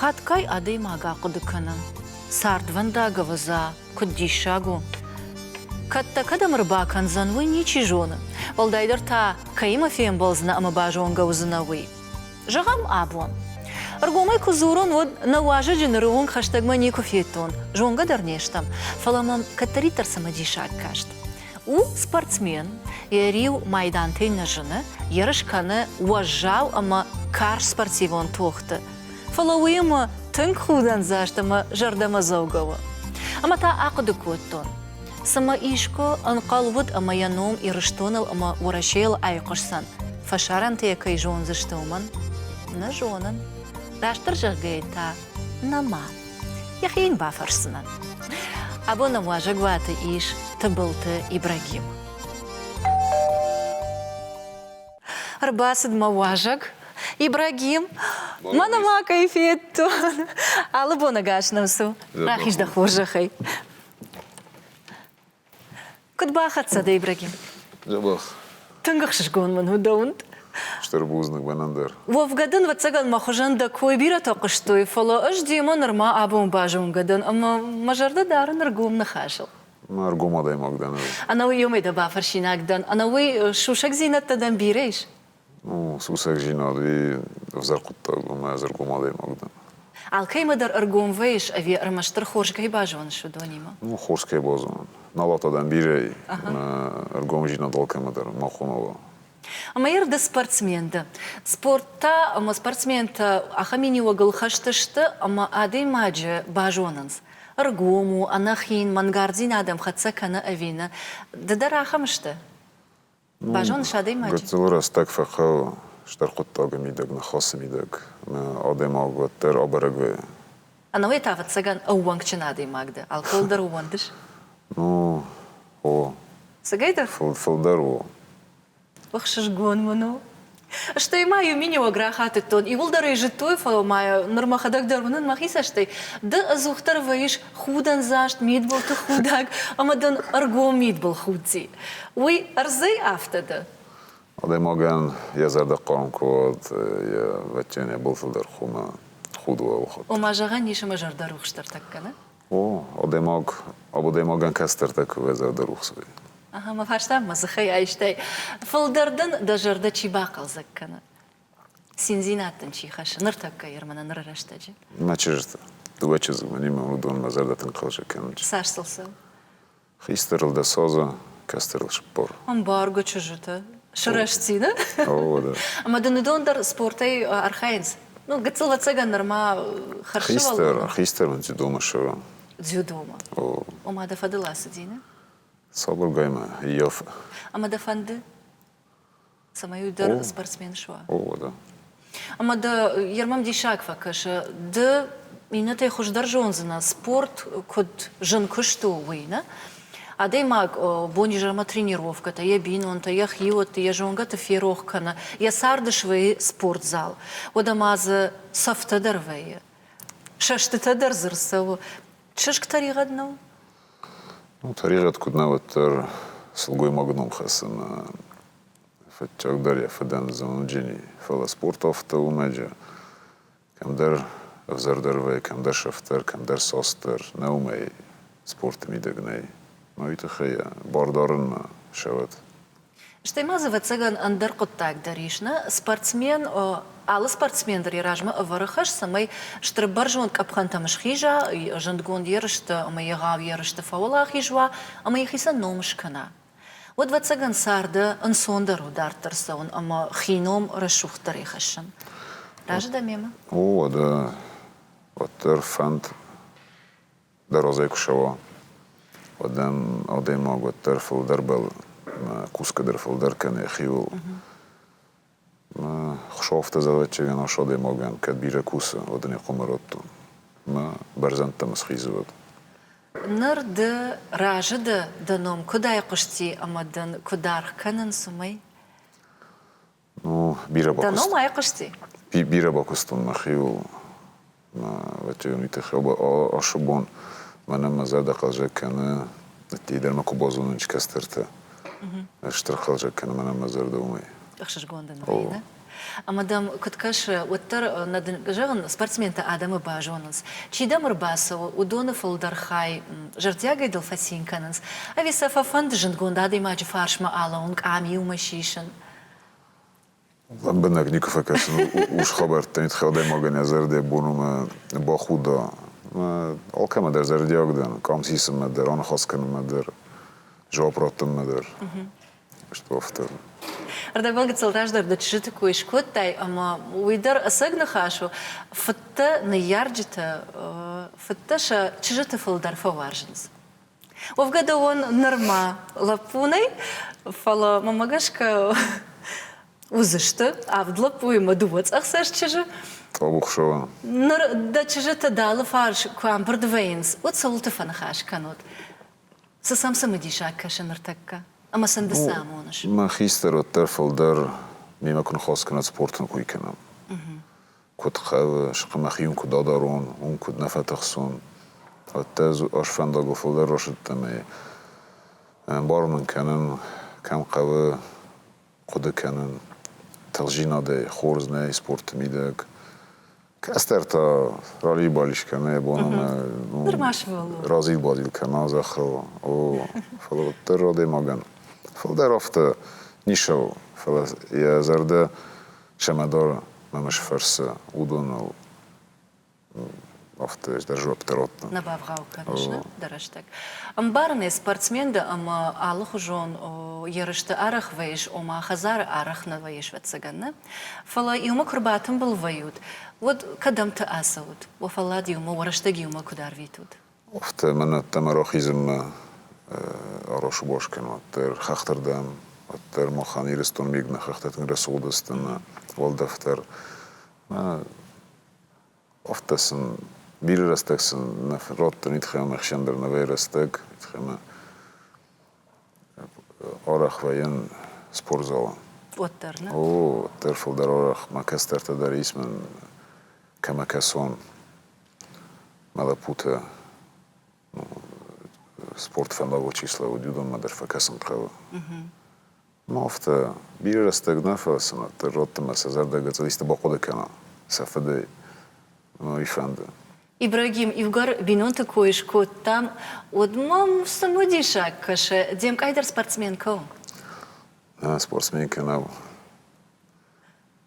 Хатгай адӕймаг ахъуыды кӕны, цардвӕндаг ӕвӕдза куыд диссаг у. Кӕд дӕ кӕдӕм ӕрбакӕндзӕн, уый ничи зоны. Уӕлдайдӕр та, кӕимӕ фембӕлдзынӕ ӕмӕ базонгӕ уыдзынӕ, уый. Зӕгъӕм, абон. Ӕргомӕй куы дзурон, уӕд нӕ уазӕджы ныры онг хӕстӕгмӕ никуы федтон, зонгӕ дӕр не стӕм, фӕлӕ мӕм кӕддӕриддӕр цымыдисаг каст. У спортсмен, йӕ риу майдантӕй нӕ зыны, ерыс кӕны уӕззау ӕмӕ карз спортивон тохты, фӕлӕ уыимӕ тынг худӕндзаст ӕмӕ зӕрдӕмӕдзӕугӕ у. Ӕмӕ та ахъуыды кодтон, цымӕ искуы ӕнхъӕл уыд ӕмӕ йӕ ном Ирыстоныл ӕмӕ Уӕрӕсейыл айхъуысдзӕн, фӕсарӕнтӕ йӕ кӕй зондзысты, уымӕн? Нӕ зонын. Растдӕр зӕгъгӕйӕ та, нӕма. йӕхи йын бафӕрсдзынӕн. Абон ӕм уазӕгуаты ис Тыбылты Ибрагим. Ӕрбацыд мӕ уазӕг Ибрагим. Мӕнӕ ма кӕй федтон. Алы бонӕгас нӕм цу. Рахиз дӕ хорзӕхӕй. Куыд бахӕццӕ дӕ, Ибрагим? Дзӕбӕх. Тынг ӕхсызгон мын у дӕ уынд. Стыр бузныг мӕнӕн дӕр. Уӕвгӕ дын, ӕвӕццӕгӕн, мӕ хуызӕн дӕ кой бирӕтӕ хъуыстой, фӕлӕ ӕз демӕ нырма абон базонгӕ дӕн ӕмӕ мӕ зӕрдӕ дары ныр гом ныхасыл. Ма ӕргом адӕймаг дӕ нӕу. Ӕнӕуый ёмӕ дӕ бафӕрсинаг дӕн, ӕнӕуый сусӕгдзинӕдтӕ дӕм бирӕ ис? сусӕгдзийнади ӕвзӕр хъуыддаг ӕмӕ ӕдзӕргом адӕймаг дӕн. Алкӕмӕ дӕр ӕргом вӕййыс ӕви ӕрмӕстдӕр хорз кӕй базоныс, уыдонимӕ? Ну, хорз кӕй базонын. Налат адӕм бирӕ и, ӕмӕ ӕргомдзинад алкӕмӕ дӕр ма хонала. Ӕмӕ ӕрды спортсмен дӕ. Спорттӕ ӕмӕ спортсментӕ ахӕм миниуӕгыл хӕсты сты, ӕмӕ адӕймаджы базонынц. Ӕргом у, ӕнӕхин, мӕнгардзинад ӕм хӕццӕ кӕны ӕви нӕ. Ды дӕр ахӕм сты? Базон адӕймаджы. Гыццыл рӕстӕг фӕхъӕуы стыр хъуыддагы мидӕг, ныхасы мидӕг ӕмӕ адӕймаг уӕддӕр абӕрӕг уайы. Ӕнӕуый та, ӕвӕццӕгӕн, ӕууӕнкджын адӕймаг дӕ. Алкӕуыл дӕр ууӕндыс? Ну, о. Цыгӕйдӕр? Фылдӕр у. Ӕхсызгон мын у, Стӕй ма иу минеуӕг рахатыдтон, иуылдӕр ӕй зыдтой, фӕлӕ ма ныр мӕхӕдӕг дӕр уынын мӕхи цӕстӕй, ды ӕдзухдӕр вӕййыс худӕндзаст мидбылты худӕг ӕмӕ дын ӕргом мидбыл худдзи. Уый ӕрдзӕй афтӕ дӕ? Адӕймагӕн йӕ зӕрдӕ хъарм куы уӕд, йӕ вӕтчен йӕ былтыл дӕр хумӕ худ уӕлхъуыд. Ома, зӕгъӕн ис ӕмӕ зӕрдӕ рухс дӕр тӕккӕ нӕ? О, адӕймаг абадӕймагӕн кӕстӕртӕ куы уа зӕрдӕ рухсӕй. Ага, мӕ фарста мӕ дзыхӕй айстай. Фылдӕр дын дӕ зӕрдӕ чи бахъӕлдзӕг кӕны? Циндзинад дын чи хӕссы ныртӕккӕ ирмӕ нӕ ныры рӕстӕджы? Мӕ чызджытӕ, дыууӕ чызджы, мӕн-иу мӕ уыдон мӕ зӕрдӕ тынг хъӕлӕсӕг кӕнынц. Цас сыл цӕуы? Хистӕрыл дӕ соза, кӕстӕрыл сбор. Ӕмбаргӕ чызджыты сырӕзтдзины. О, да. Ӕмӕ дын уыдон дӕр спортӕй архайынц? Ну, гыццыл ӕцӕгӕн нырма хӕрзсывӕллон. Хистӕр, хистӕрӕн дзюдомӕ ссара. Дзюдомӕ? О. Ома дӕ фӕдыл ацыди, нӕ? Сабыргай мӕ ййафы. Ӕмӕ дӕ фӕнды? цӕмӕй уый дӕр спортсмен суа. О, да. Ӕмӕ дӕ Ермам диссаг фӕкӕсы, ды иннӕтӕй хуыздӕр зондзынӕ, спорт куыд зын куыст у, уый, нӕ? Адӕймаг бонизӕрмӕ тренировкӕтӕ, йӕ бинонтӕ, йӕ хиуӕтты, йӕ зонгӕты ферох кӕны, йӕ царды свӕййы спортзал. Уӕдӕ ма дзы цӕфтӕ дӕр вӕййы, сӕстытӕ дӕр дзы рцӕуы. Чызг тӕригъӕд нӕу? Фӕризӕт куыднӕ уӕддӕр сылгоймаг ном хӕссыны фӕдджагдӕр йӕ фыдӕн зонынджыни, фӕлӕ спортовты уымӕджы кӕмдӕр ӕвзӕрдӕр вӕййы, кӕмдӕр сӕфтдӕр, кӕмдӕр состдӕр, нӕ уымӕй спорты мидӕг нӕй. Уый тыххӕй бар дарынмӕ ссӕуӕд. Стӕй ма дзы, ӕвӕццӕгӕн, ӕндӕр хъуыддаг дӕр ис, нӕ спортсмен алы спортсмен дӕр йӕ размӕ ӕвӕры хӕс, цӕмӕй стыр бӕрзонд къӕпхӕнтӕм схиза, зындгонд ерысты ӕмӕ егъау ерысты фӕуӕлахиз уа ӕмӕ йӕхицӕн ном скӕна. Уӕд, ӕвӕццӕгӕн, царды ӕнцондӕр у дарддӕр цӕуын ӕмӕ хи ном рӕсугъддӕрӕй хӕссын. Разы дӕ мемӕ? О, уӕдӕ уӕддӕр фӕнд дӕр розӕй куы сӕуа, уӕд ӕм адӕймаг уӕддӕр фылдӕр бӕлы, кусгӕ дӕр фылдӕр кӕны йӕхиуыл. Хсовты заводчигӕн ас адӕймагӕн кӕд бирӕ кусы, уӕд ын йӕ хъуымӕ радтон. Мӕ бӕрзӕндтӕм схизы уӕд. Ныр ды разы дӕ, дӕ ном куыд айхъуысти ӕмӕ дын куы даргъ кӕнын, цумӕй? бира бакуст бира бакустон мӕхиу ватионити хеба ашы бон мӕнӕ мӕ зӕдӕ хъазӕг кӕны ӕдтей дӕр мӕ ку базонун чи кӕстӕртӕ стыр хъазӕг кӕны мӕнӕ мӕ зӕрдӕ уымӕй ӕхсызгон дын вӕййы да ӕмӕ дӕм куыд кӕсы уӕддӕр нӕ дын зӕгъын спортсментӕ адӕмы базонынц чи дӕм ӕрбацӕуы уыдоны фылдӕр хай зӕрдиагӕй дыл фӕцин кӕнынц ӕви сӕ фӕфӕнды зындгонд адӕймаджы фарсмӕ алӕуын къам иумӕ сисын Лӕмбынӕг никуы фӕкӕсын ус хабӕрттӕ, ит адӕймагӕн йӕ зӕрдӕ боны бахуда. Алкӕмӕ дӕр зӕрдиаг дӕн, къам сисынмӕ дӕр, аныхас кӕнынмӕ дӕр, жауап радтынмӕ дӕр. Стӕй афтӕ. Ӕрдӕбон гыццылтас дӕр дӕ чызджыты кой скодтай, ӕмӕ уый дӕр ӕцӕг ныхас у. Фыдтӕ, ныййарджытӕ, фыдтӕ сӕ чызджыты фылдӕр фӕуарзынц. Уӕвгӕ дӕ уон нырма лӕппу нӕй, фӕлӕ мӕмӕ гӕсгӕ уыдзысты авд лӕппу ӕмӕ дыууӕ цъӕхцӕст чызджы. Къабухсава. Ныр дӕ чызджыты дӕ алыфарс куы амбырд вӕййынц, уӕд цӕуылты фӕныхас кӕнут? Цы сӕм цымыдисаг кӕсы ныртӕккӕ? Ӕмӕ сын ды цы амоныс? Мӕ хистӕр уӕддӕр фылдӕр мемӕ куы ныхас кӕнат, спорт ын куы кӕнӕм. куыд хъӕуы, схъ мӕхи йын куыд адарон, уым куыд нӕ фӕтыхсон. Уӕдта ӕз ас фӕндагыл фылдӕр расыдтӕн ӕй ӕмбарын мын кӕнын, кӕм хъӕуы, хъуыды кӕнын. Тыхджинадӕй хорз нӕй спорты мидӕг. Кӕстӕр та ралил-балил кӕны йӕ бон ӕмӕ разил-бадил кӕна зӕххыл. О, фӕлӕ уӕддӕр адӕймагӕн фылдӕр афтӕ ницы у, фӕлӕ йӕ зӕрдӕ Семадор мӕм сфӕрсы уыдоныл афтӕ ӕз дӕр жуӕпптӕ радтон. Нӕ бавгъау кӕныс, нӕ, дӕ рӕстӕг? Ӕмбарын ӕз спортсмен дӕ ӕмӕ алыхуызон ерысты арӕх вӕййыс, ома хӕдзары арӕх нӕ вӕййыс, ӕвӕццӕгӕн, нӕ? Фӕлӕ иумӕ куы рбатымбыл вӕййут, уӕд кӕдӕмты ацӕут? Уӕ фӕллад иумӕ, уӕ рӕстӕг иумӕ куыд арвитут? Афтӕ мӕн ӕддӕмӕ рахизынмӕ арасы бос кӕн, уӕддӕр хӕхтырдӕм, уӕддӕр махӕн Ирыстон миг нӕ хӕхтӕ тынг рӕсугъдысты мӕ уӕлдӕфдӕр. Афтӕ сын бирӕ рӕстӕг сын нӕ радтын итхӕмӕ ӕхсӕндӕр новӕй рӕстӕг, итхӕмӕ арӕхвайӕн спортзалы. Уӕддӕр нӕ? О, уӕддӕр фылдӕр арӕх мӕ кӕстӕртӕ дӕр ис мӕн кӕмӕ кӕсон. мӕ лӕппутӕ спорт фӕмбӕлы число, уыд уыдонмӕ дӕр фӕкӕсын хъӕуы. Ма афтӕ бирӕ рӕстӕг нӕ фӕцынӕд, дӕ зӕдты мӕ сӕ зӕрдӕ гыццыл исты бахъуыды кӕна, сӕ фыдӕй уый фӕнды. Ибрагим, иугӕр бинонты кой скодтам, уӕд мӕм цымыдисаг кӕсы, де мкъай дӕр спортсменкӕ у? Нӕ, спортсменкӕ нӕу.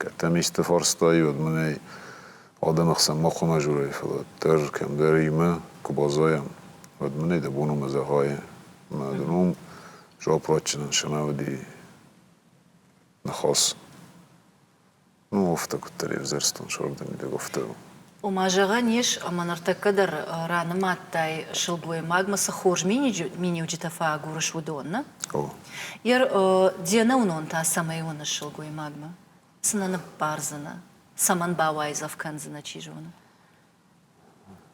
Кӕд дӕм исты фарстай, уӕд мын ӕй адӕмы хсӕн ма хъуамӕ дзурай, фӕлӕ дӕр кӕмдӕр имӕ куы баззайӕм, уӕд мын ӕй дӕ бон ӕмӕ зӕгъай, мӕ ды ном Заапрадчынӕн сӕнӕ уыди ныхас. Ну, афтӕ куыддӕр ӕвзӕрстон, сӕрдӕр мидӕг афтӕ у. Ома, зӕгъӕн ис, ӕмӕ ныртӕккӕ дӕр ранымадтай сылгоймагмӕ, цы хорз миниуджытӕ фӕагурыс, уыдонны. О. Де нӕуынон та цӕмӕй уыныс сылгоймагмӕ? Цынӕ ныббардзынӕ? Цӕмӕн бауайдзӕф кӕндзынӕ, чи зоны?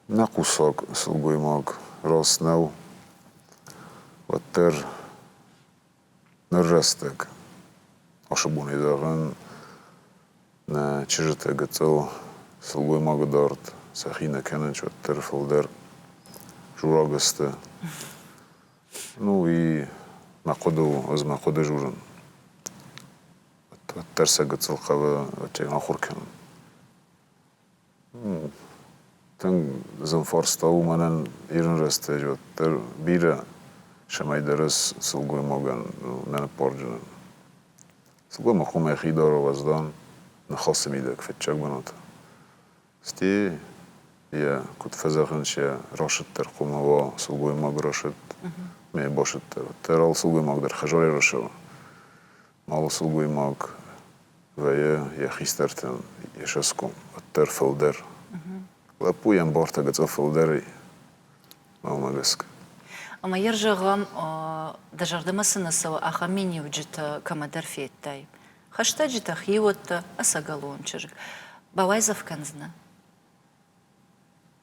Нӕ хъусӕг сылгоймаг раст нӕу, уӕддӕр Ныр рӕстӕг. Уыцы бонӕй зӕгъын, нӕ чызджытӕ гыццыл сылгоймагы дард сӕхи нӕ кӕнынц уӕддӕр фылдӕр жураг сты. Ну и мӕ хъуыды у, ӕз мӕ хъуыды журын. Уӕддӕр сӕ гыццыл хъавы уӕдӕй ахуыр кӕнын. Тынг зын фарста у мӕнӕн ирон рӕстӕджы уӕддӕр бирӕ сӕмӕйдарӕс сылгоймагӕн нӕ ныббарджынӕн. Сылгоймаг хъуамӕ йӕхи дара уӕздан, ныхасы мидӕг фыццаг бынаты. Стӕй йӕ куыд фӕзӕгъынц, йӕ расыд дӕр хъуамӕ уа сылгоймаг расыд, ма йӕ басыд дӕр. Уӕддӕр алы сылгоймаг дӕр хӕзарӕй расӕуа. Алы сылгоймаг вӕййы йӕ хистӕртӕн йе сӕсгом, уӕддӕр фылдӕр. Лӕппу йӕм бортӕ гыцъыл фылдӕрӕй, мӕнмӕ гӕсгӕ. Ӕмӕ йӕ зӕгъӕм, дӕ зӕрдӕмӕ цы нӕ цӕуы, ахӕм миниуджытӕ кӕмӕдӕр федтай? Хӕстӕджытӕ, хиуӕттӕ, ӕцӕгӕлон чызг. Бауайдзӕф кӕндзынӕ?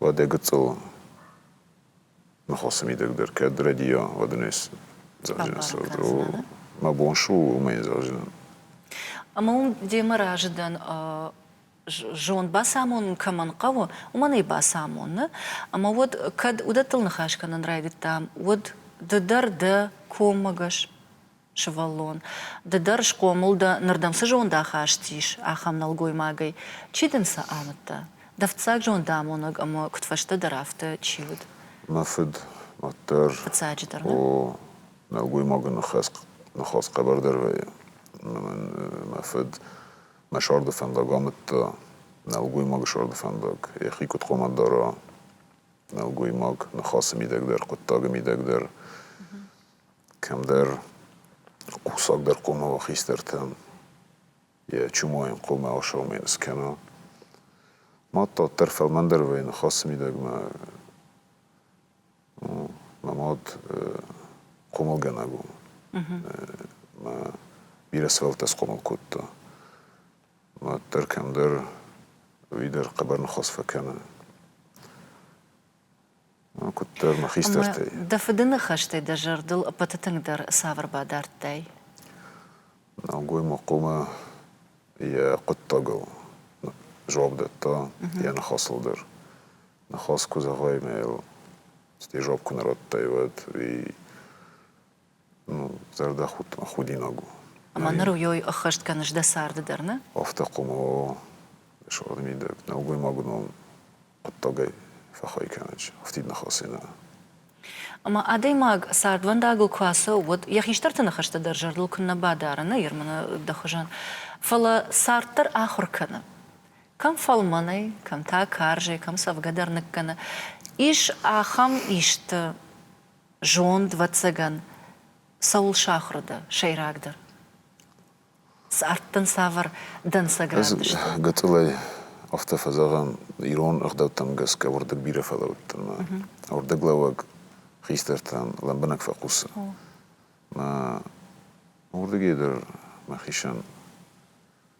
Уӕдӕ гыццыл ныхосы мидӕг дӕр кӕд рӕдийа, уӕд ын ӕз зӕгъдзынӕн сӕ мӕ бон шу у уымӕй зӕгъдзынӕн. Ӕмӕ уым демӕ разы дӕн зонд бацамонын кӕмӕн хъӕуы, уымӕн ӕй бацамоны. Ӕмӕ уӕд, кӕд уыдӕттыл ныхас кӕнын райдыдтам, уӕд ды дӕр дӕ коммӕгӕс сывӕллон, ды дӕр схъомыл дӕ, нырдӕм цы зондахаст ис, ахӕм нӕлгоймагӕй, чи дын сӕ амыдта? Дӕ фыццаг зондамонӕг ӕмӕ куыдфӕстӕдӕр афтӕ чи уыд? Мӕ фыд, уӕддӕр. Фыццаджыдӕр ма? О, нӕлгоймагы ныхас хъӕбӕрдӕр вӕййы. Мӕн мӕ фыд мӕ сӕрды фӕндаг амыдта, нӕлгоймагы сӕрды фӕндаг. Йӕхи куыд хъомӕ дара, нӕлгоймаг ныхасы мидӕг дӕр, хъуыддагы мидӕг дӕр кӕмдӕр хъусагдӕр хъумауӕ хистӕртӕн йӕ чумойын хъумауӕ саумейн скӕна. Мад дарддӕр фӕлмӕндӕр вӕййы ныхасы мидӕгмӕ. Мӕ мад хъумылгӕнӕг у. Мӕ бирӕ сывӕллӕттӕ схъомыл кодта. Мад дӕр кӕмдӕр уый дӕр хъӕбӕр ныхас фӕкӕны. Куыддӕр мӕ хистӕртӕй. Дӕ фыды ныхӕстӕй дӕ зӕрдыл ӕппӕты тынгдӕр цавӕр бад ардтай? Нӕлгоймагмӕ йӕ хъуыддагыл дзуапп дӕтта йӕ ныхасыл дӕр. Ныхас куы зӕгъай мӕ йыл стӕй дзуапп куы нӕ радтай, уӕд уый Зӕрдӕ худинаг у. Ӕмӕ ныр уый ӕххӕст кӕныс дӕ царды дӕр, нӕ? Афтӕ хъуымао, суад мидӕг, нӕлгоймаг ном хъуыддагӕй фӕхай кӕнынч афтид ныхасӕй нӕ. Ӕмӕ адӕймаг цардвӕндагыл куы ацӕуы, уӕд йӕ хистӕрты ныхӕстӕ дӕр зӕрдыл куыннӕ бадары, нӕ Ермыны дӕ хуызӕн. Фӕлӕ цард дӕр ахуыр кӕны. Кӕм фӕлмӕнӕй, кӕм та карзӕй, кӕм цӕвгӕ дӕр ныккӕны. Ис ахӕм исты, Зонд, вӕццӕгӕн, цӕуыл сахуыр дӕ сӕйрагдӕр? Цард дын цавӕр дӕнцӕград сты? Гыцъылӕй афтӕ фӕзӕгъӕм, ирон ӕгъдӕуттӕм гӕсгӕ уырдыг бирӕ фӕлӕудт ӕмӕ уырдыглӕууӕг хистӕртӕн лӕмбынӕг фӕхъусы. Мӕ уырдыгӕй дӕр мӕхицӕн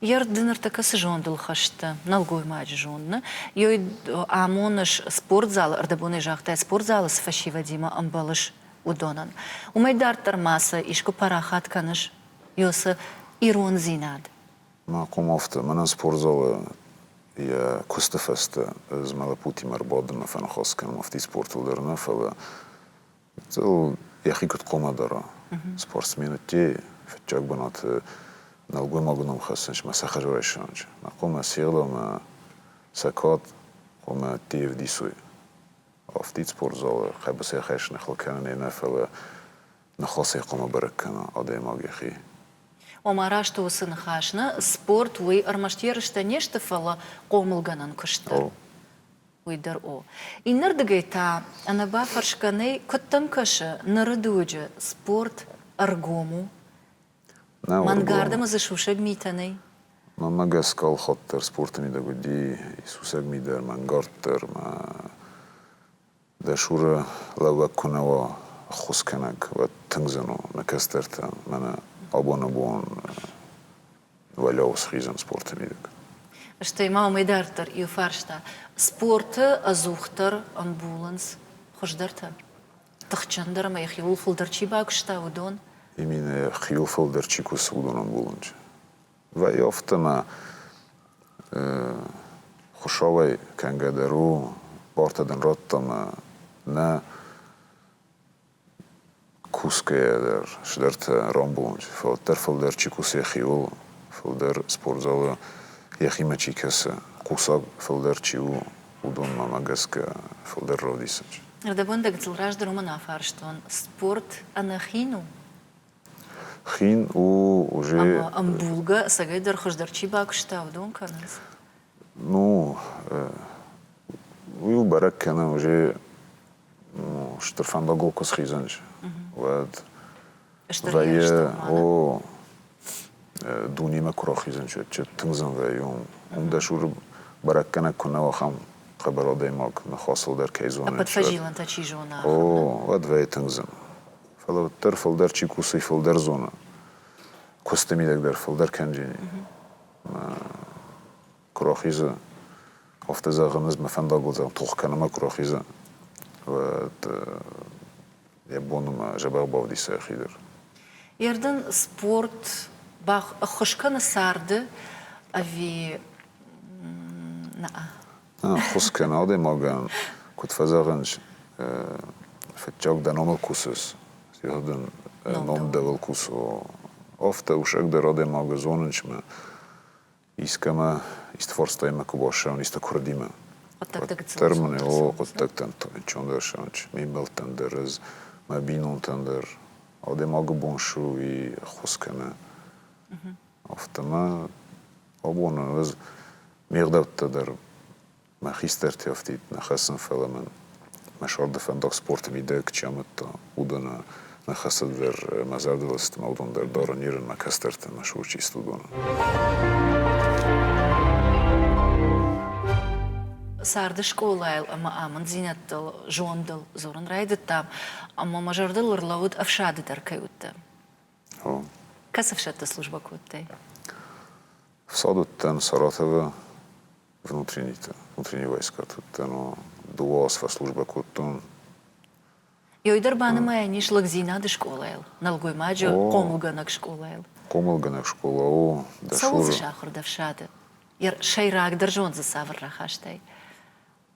Йе рд ныртӕккӕ цы зондыл хӕсты, нӕлгоймаджы зонд, нӕ? амоныс спортзалы, ӕрдӕбонӕй загътай, спортзалы цы фӕсивӕдимӕ ӕмбӕлыс, уыдонӕн. Уымӕй дарддӕр ма сӕ искуы парахат кӕныс? Ёсы ирондзинад. Мӕ комовты, мӕнӕн спортзалы йӕ куысты фӕстӕ ӕз мӕ лӕппутимӕ ӕрбадын, мӕ фӕныхас кӕнын афтӕ спортыл дӕр нӕ, фӕлӕ Гыццыл йӕхи куыд хъуамӕ дара? Спортсменӕдтӕ фыццаг бынаты нӕлгоймагы ном хӕссынц мӕ сӕ хӕрзрайсӕнджы. Мӕ хъуамӕ село ӕмӕ цӕкуат хъуамӕ ӕдде ӕвдисой. Афтид спортзалы хъӕбысӕй хӕс нӕ хыл кӕнын ӕмӕ фӕлӕ нӕ хъӕлцӕй хъуамӕ бӕрӕг кӕна адӕймаг йӕхи. Ома раст у уыцы ныхас, нӕ спорт уый ӕрмӕст ерыстӕ не сты, фӕлӕ хъомылгӕнӕн куыст дӕр. Уый дӕр у. Иннӕрдыгӕй та ӕнӕбафӕрсгӕ нӕй, куыд дӕм кӕсы, ныры дуджы спорт ӕргом у? Мӕнгардӕм дзы сусӕг митӕ нӕй? Мӕнмӕ гӕсгӕ алхатдӕр спорты мидӕг уыди сусӕг ми дӕр, мӕнгард дӕр ӕмӕ дӕ Шуры лӕууӕг куы нӕ уа ӕххуыскӕнӕг, уӕд тынг зын у нӕ кӕстӕртӕн мӕнӕ абон-абон уӕлӕуыл схизӕн спорты мидӕг. Стӕй ма уымӕй дарддӕр иу фарста, спорты ӕдзухдӕр ӕмбулынц хуыздӕртӕ, тыхджындӕр ӕмӕ йӕхи ууыл фылдӕр чи багуыста, уыдон? Иминӕ йӕхиуыл фылдӕр чи кусы, уыдон ӕмбулынчы вӕййы. Афтӕ ма Хуыщауӕй кӕнгӕ дӕр у, барт адӕм радта ӕмӕ нӕ Кусгӕйӕ дӕр цыдӕртӕ рамбулынч, фӕлӕддӕр фылдӕр чи кусы хиуыл, фылдӕр спортзалы йӕхимӕ чи кӕсы, хъусӕг фылдӕр чи у, уыдонмӕ гӕсгӕ фылдӕр равдисынч. Ӕрдӕбӕндӕгтыл раздӕр уымӕн афарстон, спорт ӕнӕхин у? Хин у, уже. Ӕмбулгӕ, цӕгӕйдӕр хуыздӕр чи бакуыста, уыдон кӕнынц. Ну, уый у бӕрӕг кӕнӕ уже стыр фӕндагыл куы схизӕнч, уӕд вӕййы, о, дунемӕ куы рахизӕнч, чи тынгдзӕн вӕййы, уым дӕсур бӕрӕггӕнӕг куы нӕ ахӕм хъӕбӕр адӕймаг ныхасыл дӕр кӕй зоны. Ӕппӕт фӕзилӕнтӕ чи зона. О, уӕд вӕййы тынгдзӕн. Фӕлӕ уӕддӕр фылдӕр чи кусы, фылдӕр зоны. Куысты мидӕг дӕр фылдӕр кӕнджыни. куы рахизы, афтӕ зӕгъын, ӕз мӕ фӕндагыл зӕгъын, тох кӕнӕ ма куы рахизы, уӕд йӕ бон у мӕ зӕбӕх бавдиса йӕхи дӕр. Ердын спорт ӕххуыс кӕны царды ӕви нӕ? Ӕххуыс кӕн адӕймагӕн, куыд фӕзӕгъынц, фыццаг дӕ номыл кусыс, зӕгъ дын, ном дӕуыл кусы. Афтӕ усӕгдӕр адӕймагы зонынчмӕ искӕмӕ, исты фарстаимӕ куы бассӕуын, исты куырдимӕ. Уӕддӕр мын, о, хъуыддӕгтӕн чондӕрсӕн, мембӕлттӕн дӕр, ӕз, мӕ бинонтӕн дӕр адӕймагы бон ссу и ӕххуыс кӕнӕ. Афтӕ ма абоны ӕз ме гъдӕуттӕ дӕр мӕ хистӕрти ӕфтид нӕ хӕссын, фӕлӕ мын мӕ сӕрды фӕндаг спорты мидӕг чи амыдта, уыдон нӕ хӕцыд дӕр мӕ зӕрдылыстмӕ, уыдон дӕр дарын Иры мӕ кӕстӕрты мӕ сур чист уыдоны. Царды скъолайыл ӕмӕ амынддзинӕдтыл, зондыл дзурын райдыдтам, ӕмӕ мӕ зӕрдыл ӕрлӕууыд ӕфсады дӕр кӕй уыдтӕн. Кӕцы ӕфсӕдты службӕ кодтай? Фсад уыдтӕн Саратовы внутренниты, внутренние войскӕты уыдтӕн, дыууӕ аз фӕслужбӕ кодтон. Ёй дӕр банымайӕн ис лӕгдзинады скъолайыл, нӕлгоймаджы хъомылгӕнӕг скъолайыл. Хъомылгӕнӕг скъола у дӕсур. Цӕуыл дзы сахуыр дӕ фсады? Йӕ сӕйрагдӕр зонд дзы цавӕр рахастай?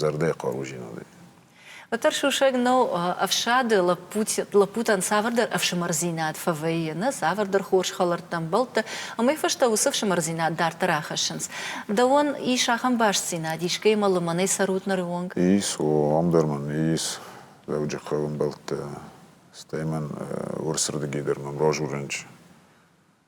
зӕрдӕ хъаруджинадӕй. Уӕддӕр сусӕг нӕу ӕфсады лӕппутӕн цавӕрдӕр ӕфсымӕрдзинад фӕвӕййы, нӕ цавӕрдӕр хорз хӕлӕрттӕ ӕмбӕлтты, амӕй фӕстӕ уыцы ӕфсымӕрдзинад дарддӕр ахӕссынц. Дӕуӕн ис ахӕм бастдзинад, искӕимӕ лымӕнӕй цӕрут ныры онг? Ис, уым дӕр мӕм ис Дзӕуджыхъӕуы ӕмбӕлттӕ, стӕй мӕн урсырдыгӕй дӕр мӕм разурынч.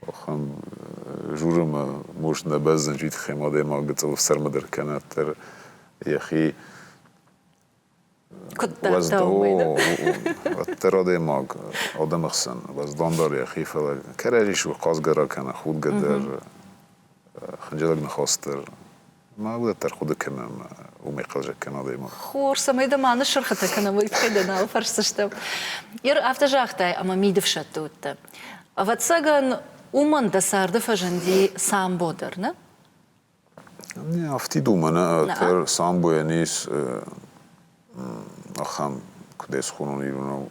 Охӕн журы ма мост нӕ бӕздзӕн житхем адӕймаг гыцъыл сӕрмӕ дӕр кӕнӕддӕр йӕхи уӕддӕр адӕймаг адӕмы хсӕн уӕздандӕр йӕхи фӕлӕ кӕрӕдзи су хъазгӕ ракӕна худгӕ дӕр хынджылӕг ныхас дӕр Ма уӕддӕр хъуыды кӕнӕм уымӕй хъӕлдзӕггӕн адӕймаг. Хорз, цӕмӕй дӕ ма ныссырхытӕ кӕнӕм, уый тыххӕй дӕ нал фӕрсдзыстӕм. Ир афтӕ загътай, ӕмӕ мидыфсӕдты уыдтӕ. Ӕвӕццӕгӕн, уымӕн дӕ царды фӕзынди самбо дӕр, нӕ? Не афтид уымӕн, ӕддӕр самбойӕн ис ахӕм, куыд ӕсхуынон ирон у,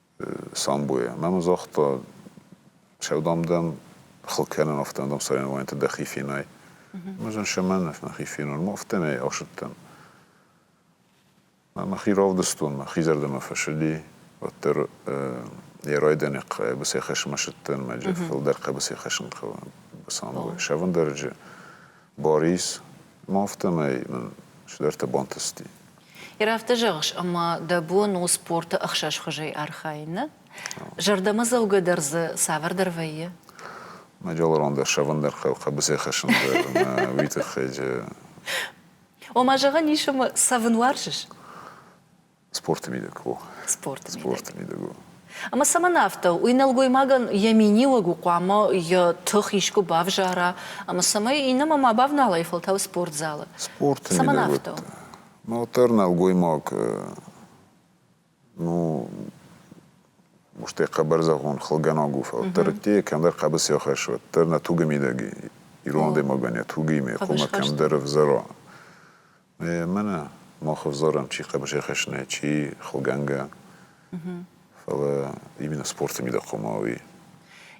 самбойӕ. Мӕ мын загъта, сӕу, дам, дӕм хыл кӕнын афтӕ, дам, соревнованиты дӕхи фенай. Ӕмӕ зын сӕмӕнов мӕхи фенон, ма афтӕмӕй ӕхсыдтӕн. Мӕхи равдыстон, мӕхи зӕрдӕмӕ фӕсыди, уӕддӕр йӕ райдайӕны хъӕбысӕй хӕсынмӕ сыдтӕн, мӕ джеффыл дӕр хъӕбысӕй хӕсын хъӕуы самбой. Сӕвӕндарӕджы Борис, ма афтӕмӕй мын цыдӕртӕ бантысти. Ирӕфтӕ зӕгъыс, ӕмӕ дӕ бон у спорты ӕхсӕзхуызӕй архайыны? Зӕрдӕмӕдзӕугӕ дӕр дзы цавӕрдӕр вӕййы? Мӕ дӕлармон дӕр сӕвӕндӕр хъӕбысы хӕссын дӕр ӕмӕ уый тыххӕй. Ома, зӕгъӕн ис, ӕмӕ цӕвын уарзыс? Спорты мидӕг у. Спорты Спорты мидӕг у. Ӕмӕ цӕмӕн афтӕ? Уый нӕлгоймагӕн йӕ миниуӕг у хъуамӕ йӕ тых искуы бавзара, ӕмӕ цӕмӕй иннӕмӕ ма бавнала, йӕ фӕлтау спортзалы. Спорты цӕмӕн мидӕг афтӕ? Уӕддӕр нӕлгоймаг, ну, стӕй хъӕбӕрзӕгъон хылгӕнаг у, фӕлддӕр уыдтӕй кӕмдӕр хъӕбысы ахӕссы, уӕддӕр нӕ тугы мидӕг ирон адӕймагӕн йӕ тугимӕ йӕ къуымы кӕмдӕр ӕвзара. Мӕнӕ мах ӕвзарӕм, чи хъӕбысӕхӕсна, чи хылгӕнгӕ, фӕлӕ именно спорты мидӕгхъомауи.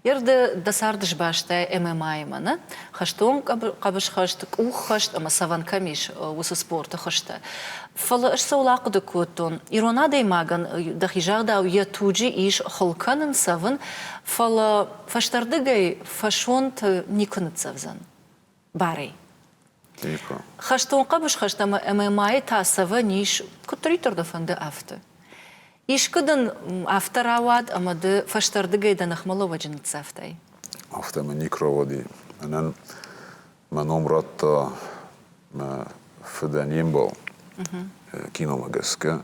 Ерды дӕ царды сбастай ММА-имӕ, нӕ? Хӕстон хъӕбысхӕст, къуххӕст ӕмӕ цӕвӕн кӕм ис, уыцы спорты хуызтӕ. Фӕлӕ ӕз сыл ахъуыды кодтон, ирон адӕймагӕн дӕхи загъдау йӕ туджы ис хыл кӕнын, цӕвын, фӕлӕ фӕстӕрдыгӕй фӕсонты никуы ныццӕвдзӕн. барӕй. Типа. Хӕстон хъӕбысхӕст ӕмӕ мӕйы та цӕвӕн ис, куыддӕриддӕр дӕ фӕнды, афтӕ. Искуы дын афтӕ рауад, ӕмӕ ды фӕстӕрдыгӕй дӕ ныхмӕлӕууӕджы ныццавтай? Афтӕ мын ник рауади. Мӕнӕн мӕ ном радта мӕ фыдӕн йе мбал, киномӕ гӕсгӕ.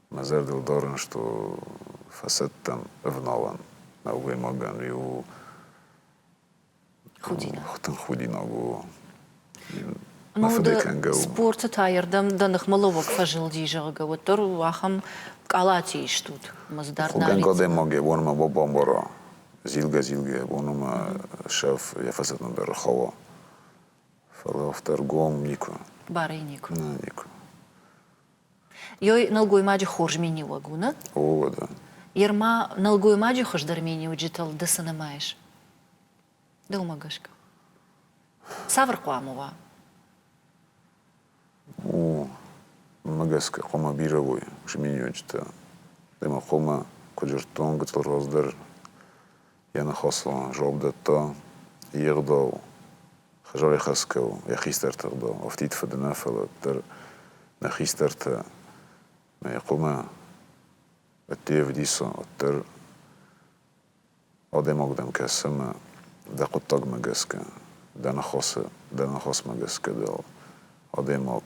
Мӕ зӕрдыл дарын, што фӕцӕттӕн ӕвналӕн. Нӕлгоймагӕн иу худинаг. Тынг худинаг у. Мӕ фыды кӕнгӕ у. Спорты таердӕм дӕ ныхмӕлӕууӕг фӕзылди, зӕгъгӕ, уӕддӕр ахӕм къалати истут? Хъугӕн адӕймаг йӕ бон ма бамбара. Зилгӕ-зилгӕ йӕ бон ӕмӕ сӕф йӕ фӕсӕтмӕ дӕр хауа. Фӕлӕ афтӕ ргом никуы. Барӕй никуы. Нӕ, никуы. Йой нӕлгоймаджы хорз миниуӕг уыны. О, да. Ерма нӕлгоймаджы хуыздӕр миниуджытыл ды цы нымайыс? Дӕумӕ гӕсгӕ? Цавӕр хъуамӕ уа? О, мӕ гӕсгӕ хъуамӕ бирӕ уой ус миниуджытӕ. Ӕмӕ хъуамӕ, куыд зыдтон, гыцъыл роз дӕр Йӕ ныхасыл жоп дӕтта йе гъдау, хӕзарӕхӕсгӕ у йӕ хистӕрты гъдау, афтид фыды нӕ, фӕлӕ дӕр нӕ хистӕртӕ мӕ хъумӕ ӕдде ӕвдисы, уӕддӕр адӕймагудӕн кӕсы ӕмӕ дӕ хъуыддагмӕ гӕсгӕ, дӕ ныхасы, дӕ ныхасмӕ гӕсгӕ дӕ адӕймаг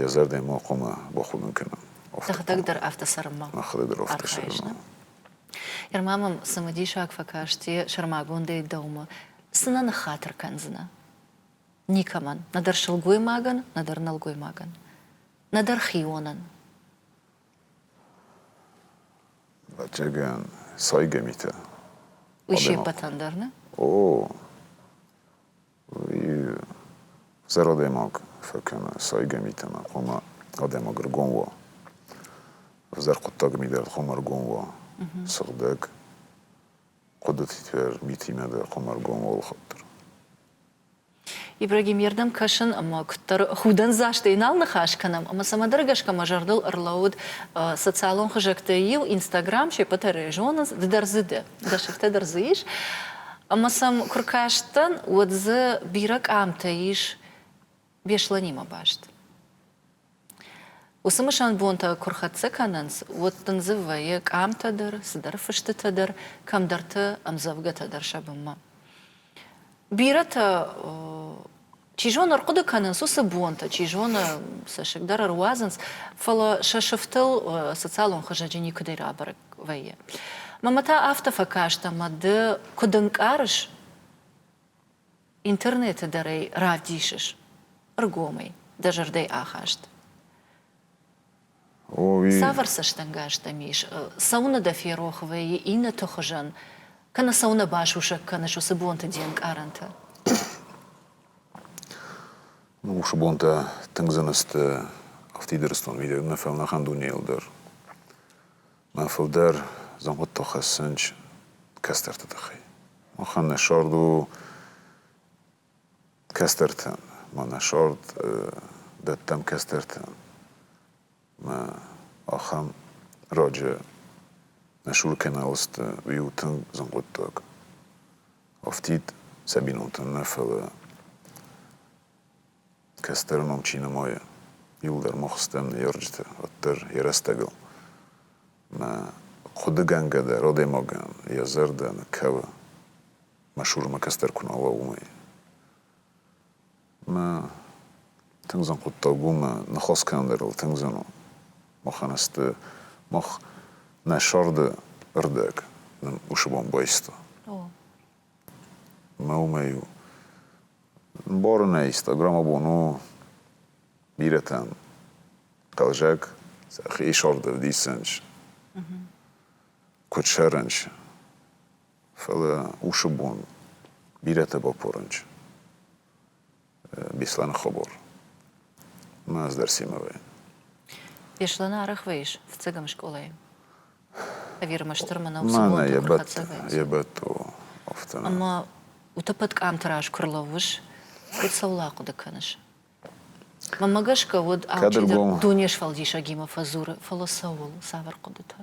йӕ зӕрдӕ ма хъуамӕ бахудын кӕна. Сӕхӕдӕг дӕр афтӕ цӕрынмӕ архайыс, нӕ? Ерма мӕм цымыдисаг фӕкасти сӕрмагондӕй дӕумӕ. Цы нӕ ныххатыр кӕндзынӕ? Никӕмӕн, нӕдӕр сылгоймагӕн, нӕдӕр нӕлгоймагӕн, нӕдӕр хионӕн. Бадзӕгӕн сайгӕ митӕ. Уый се ппӕтӕн дӕр, нӕ? О, Зӕр адӕймаг фӕкӕна сайгӕ митӕмӕ, хъуамӕ адӕймаг ӕргом уа. Ӕвзӕр хъуыддаг мидӕр хъуамӕ ӕргом уа. Сыгъдӕг хъуыдытитӕ митимӕ дӕр хъуамӕ ӕргом уа алыхатт дӕр. Ибрагим, йе рдӕм кӕсын ӕмӕ куыддӕр худӕндзастӕй нал ныхас кӕнӕм ӕмӕ цӕмӕдӕр гӕсгӕ мӕ зӕрдыл ӕрлӕууыд социалон хызӕгтӕй иу, Инстаграм, се ппӕтӕ рӕ зонынц, ды дӕр дзы дӕ, дӕ сыфтӕ дӕр дзы ис. Ӕмӕ сӕм куы ркастӕн, уӕд дзы бирӕ къамтӕ ис Беслӕнимӕ баст. Уыцы мысӕн бонтӕ куы рхӕццӕ кӕнынц, уӕд дын дзы вӕййы къамтӕ дӕр, цыдӕр фыстытӕ дӕр, кӕмдӕрты ӕмдзӕвгӕтӕ дӕр сӕ бынмӕ. Бирӕтӕ Чи зоны, ӕрхъуыды кӕнынц уыцы бонтӕ, чи зоны, цӕссыг дӕр ӕруадзынц, фӕлӕ сӕ сыфтыл социалон хызӕджы никуыдӕй рабӕрӕг вӕййы. Мамӕ та афтӕ фӕкаст ӕмӕ ды куыд ӕнкъарыс, интернеты дӕр ӕй равдисыс ӕргомӕй, дӕ зӕрдӕйы ахаст. Цавӕр цӕстӕнгас дӕм ис? Цӕуыны дӕ ферох вӕййы иннӕты хуызӕн, кӕнӕ цӕуын нӕ басусӕг кӕныс уыцы бонты де нкъарӕнты? Уыцы бонтӕ тынг зын сты ӕфтидырыстон видеомӕ фӕлнӕхъӕн дунейыл дӕр. Мӕ фылдӕр зӕнхъытыл хӕссынч кӕстӕрты тыххӕй. Махӕн нӕ сӕрд у кӕстӕртӕн. Мӕнӕ сорт дӕттӕм кӕстӕртӕн. Мӕ ахӕм раджы нӕ Сур кӕналы сты иу тынг зын хъуыддаг. Афтид сӕ бинонтӕн нӕ, фӕлӕ кӕстӕр ном чи нымайы, иуыл дӕр мах стӕм ныййарджытӕ, уӕддӕр йӕ рӕстӕгыл мӕ хъуыдыгӕнгӕ дӕр адӕймагӕн йӕ зӕрдӕ нӕ кӕуы. мӕ шурмӕ кӕстӕр куы нӕ уа, уымӕй. Мӕ тынг зын хъуыддаг у мӕ ныхас кӕндӕрыл тынг зын у. Махӕн сты мах нӕ сӕрды рдӕг нын уышы бон байста. Мӕ уымӕй у бары нӕ иста. Граммабон у бирӕтӕн хъӕлзӕг, сӕхи сӕрды вдисынч, куыд сӕрынч, Фӕлӕ уьщы бон бирӕтӕ бапорын чи? Беслӕны хабар. Мӕ ӕз дӕр Семовӕйӕн. Беслӕны арӕхвӕйыс фыццӕгӕм скъолайы? Ӕви ӕрмӕстдӕр мын ӕуыцы бонты йӕ бӕтт, йӕ бӕтт у афтӕ. Ӕмӕ утӕппӕт къамты раз куы рлӕууыс, уӕд цӕуыл ахъуыды кӕныс? Мӕмӕ гӕсгӕ уыд алчидӕр дуне сфӕлдисӕгимӕ фӕдзуры, фӕлӕ цӕуыл, цавӕр хъуыдытӕ?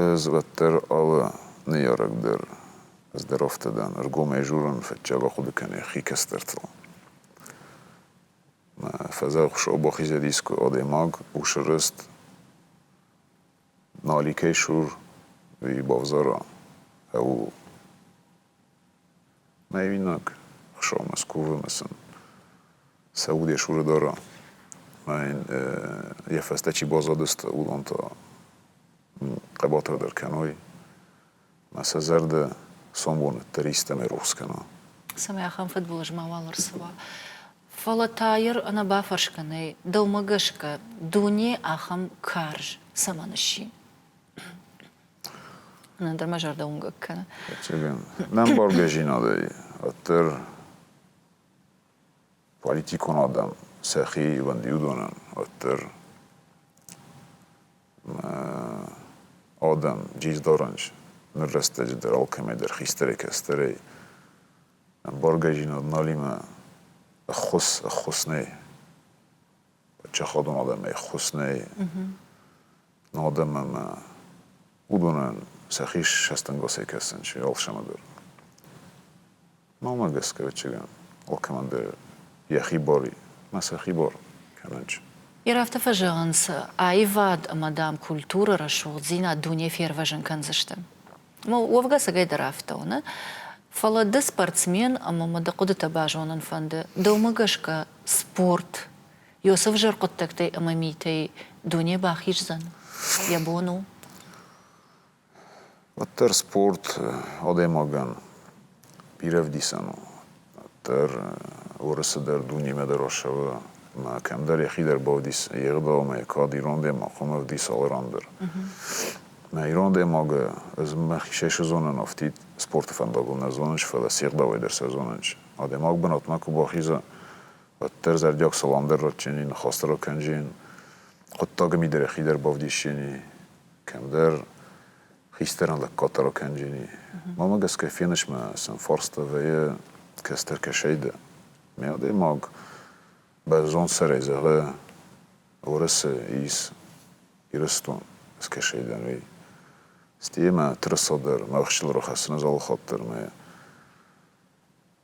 Ӕз уӕддӕр алы ныййарӕг дӕр здоровтӕ дӕн, ӕргомӕй дзурын, фӕдджӕбӕх хъуыды кӕны йӕхи кӕстӕртыл. Фӕдзӕхсо бахизӕдискуы адӕймаг у сырӕзт, нӕ аликӕй сур и бавзара. Ӕу Мӕ иунӕг хсомӕ скувӕмӕ сын сӕ удӕс уры дара. Ӕмӕ йын йӕ фӕстӕ чи баззадысты, уыдон та хъӕбатыр дӕр кӕной. Ӕмӕ сӕ зӕрдӕ сомбоныддӕр истӕмӕй рухс кӕна. Цӕмӕй ахӕм фыдбылыз мауал ӕрцӕуа. Фӕлӕ Тайыр ӕнӕ бафӕрсгӕ нӕй, дӕумӕ гӕсгӕ, дуне ахӕм карз цӕмӕн сси? Ӕндӕр мӕ зӕрдӕ уынгӕг кӕны. Нӕм бӕргӕ зинадӕй ӕддӕр политикон адӕм сӕхи ивӕндиудонӕн ӕддӕр адӕм джиздарӕнч ныр рӕстӕджы дӕр алкӕмӕйдӕр хистӕрӕй-кӕстӕрӕй ӕмбаргӕжинад налимӕ ӕххуыс ӕххуыс нӕй падчахадон адӕмӕй ӕххуыс нӕй адӕммӕ ма уыдонӕн сӕхи сӕстӕнгасӕй кӕсын чи алсӕмӕдӕр. Мамӕ гӕсгӕ, ӕвӕццӕгӕн, алкӕмӕндӕр йӕхи бар и, ма сӕхи бар кӕнӕн чи. Ир афтӕ фӕзӕгъынц, аивад ӕмӕ, дам, культурӕ, рӕсугъддзинад дуне фервӕзын кӕндзысты. Уӕвгӕ сӕгӕйдӕр афтӕ уыны, фӕлӕ ды спортсмен ӕмӕ мӕ дӕ хъуыдытӕ базонын фӕнды, дӕумӕ гӕсгӕ спорт Иосиф зӕр хъуыддӕгтӕй ӕмӕ митӕй дуне бахиздзӕн, йӕ бон у. Уӕддӕр спорт адӕймагӕн бирӕ вдисӕн у. Уӕддӕр Уырысы дӕр дунемӕ дӕр ӕссӕуы ӕмӕ кӕмдӕр йӕхи дӕр бавдис йе гъдаумӕ, кӕд ирон адӕймаг хъуамӕ вдис алы ран дӕр. Мӕ ирон адӕймагы ӕз мӕхицӕй сызонын афтид спорты фӕндагыл нӕ зонынч, фӕлӕ се гъдауӕй дӕр сӕ зонынч. Адӕймаг бынатмӕ куы бахиза, Уӕддӕр зӕрдиаг салам дӕр радтинин, хестӕр кӕнин хъуддаги мидӕре хидӕр бавдесини, кӕмдӕр хистӕрӕн лӕггаддӕр кӕнини. Мамӕ гӕсгӕ фенисмӕ сӕм фарста вӕййы кӕстӕр кӕсайдӕ. Ме адӕймаг бӕззондсӕрӕй зӕгъы Уӕрӕсе ис Ирыстон скӕсайдӕн, уый. Стӕй ма тырыса дӕр, мӕ хсыл рахӕссыны залы хатт дӕр мӕ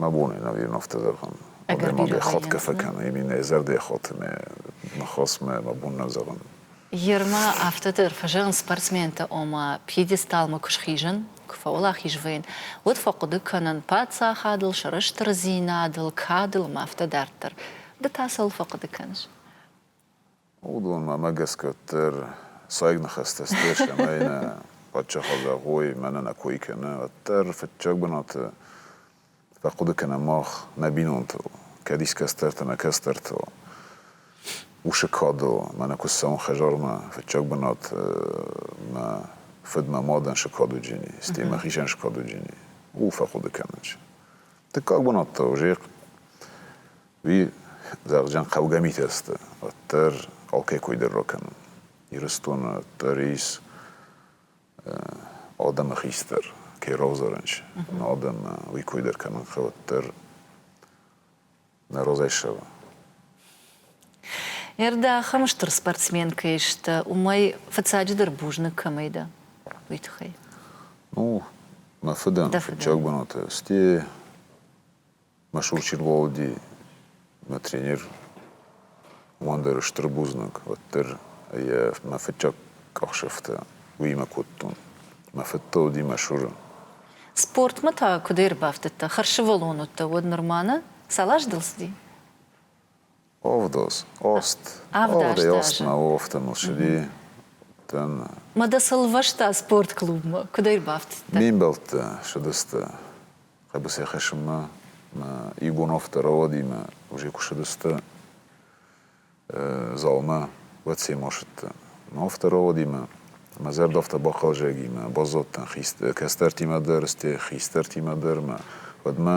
Мӕ бони невиновтӕ дӕр ан. Уӕдӕ ма ме ходгӕ фӕкӕн, еми нӕ зӕрдӕхъоти мӕ нхосмӕ мӕ бон нӕ зӕгъун. Ермӕ афтӕдӕр фӕзӕгъын спортсментӕ, ома, пьедесталмӕ куы схизын, куы фӕуӕлахиз вӕйын, уӕд фӕхъуыды кӕнын паддзахадыл, сӕрыстырдзинадыл, кадыл ӕмӕ афтӕ дарддӕр. Ды та цӕуыл фӕхъуыды кӕныс? Уыдон мӕмӕ гӕсгӕ дӕр сайг ныхӕстӕ сдӕс ӕмӕ нӕ паддзахад зӕгъой, мӕнӕ нӕ кой кӕны, уӕддӕр фыццаг бынаты фӕхъуыды кӕнӕм мах нӕ бинонтыл, кӕд искӕцдӕртӕ нӕ кӕцдӕртыл, усы кадыл, мӕнӕ куы ссӕуӕм хӕдзармӕ, фыццаг бынат мӕ фыд мӕ мадӕн сыкъа дуджы ни, стӕй мӕхицӕн сыкъа дуджы ни, у фӕхъуыды кӕнын. Дыккаг бынат та уже Уый дӕргъджын хъӕугӕ митӕ сты, уӕддӕр алкӕй кой дӕр ракӕнын. Ирыстоны дӕр ис адӕмы хистӕр, кӕй равзарӕн чи, но адӕммӕ уый кой дӕр кӕнын хъӕуы, дӕр нӕ разӕйсӕвы. Ӕрдӕхӕм стыр спортсмен кӕй сты, уымӕй фыццаджыдӕр бузныг кӕмӕй дӕ, уый тыххӕй. Ну, мӕ фыдӕн, фыццаг бынаты, стӕй Мӕ сурчин Володи, мӕ тренер, уымӕн дӕр стыр бузныг, уӕддӕр мӕ фыццаг къахдзӕфтӕ уыимӕ кодтон. Мӕ фыдтӕ уыди мӕ суры. Спортмӕ та куыд ӕрбафтыдтӕ? Хӕрсывӕллон уыдтӕ уӕд нырма нӕ? Цал аз дыл цыди? Овдос, ост. Овдӕй на овтӕ нусви тӕн. Ма дӕ цы лвӕста спортклубмӕ? Куыд ӕрбафтыдтӕ? Мимбӕлттӕ ссыдысты хъӕбысы хӕсынмӕ. Мӕ игонов дӕр ауадимӕ уже куысыдысты залмӕ. Уӕд Семо сыдтӕ нов дӕр ауадимӕ. Мӕ зӕрдӕфтӕ бахъӕлзӕгимӕ баззадтӕн кӕстӕртимӕ дӕр, стӕй хистӕртимӕ дӕр ма. Уӕдмӕ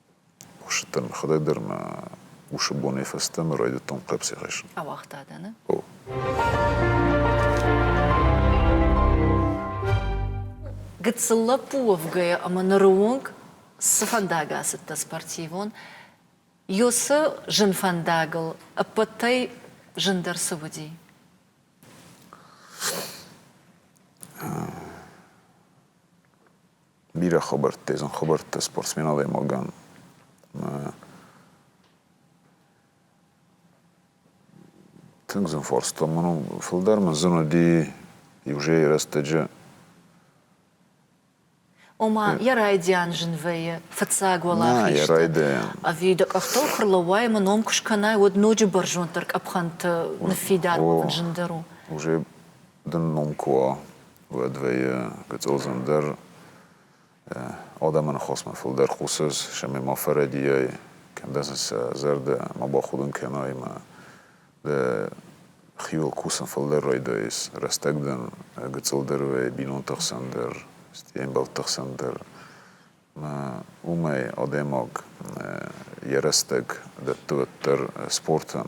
Кусыдтӕн мӕхӕдӕг дӕр мӕ усы бонӕй фӕстӕмӕ райдыдтон хъӕпси хӕссын. Ауагъта дӕ, нӕ? О. Гыццыл лӕппу уӕвгӕйӕ ӕмӕ ныры онг цы фӕндаг ацыдтӕ спортивон? Ёсы зын фӕндагыл ӕппӕтӕй зындӕр цы уыди? бирӕ хабӕрттӕ, езын хабӕрттӕ спортсмен адӕймагӕн тынг зын фарста мын у. Фылдӕр мын зын уыди иужӕй рӕстӕджы Ома, йӕ райдиан зын вӕййы фыццаг уӕлахизты. Ӕви дӕ къӕхтыл куы рлӕууай ӕмӕ ном куы скӕнай, уӕд ноджы бӕрзонддӕр къӕпхӕнты ныффидар кӕнын зындӕр у. Уже дын ном куы уа, уӕдвӕййы гыцъылдзын дӕр адӕмӕн хосмӕ фылдӕр хъусыс, сӕми ма фӕрӕдийай, кӕндӕн сӕ зӕрдӕ ма бахудын кӕна ӕмӕ дӕ хиуыл кусын фылдӕр райдайыс. Рӕстӕг дын гыцъыл дӕр уай, бинонты хсӕн дӕр, стӕй ӕмбӕлтты хсӕн дӕр. Уымӕй адӕймаг йӕ рӕстӕг дӕтты уӕддӕр спортӕн.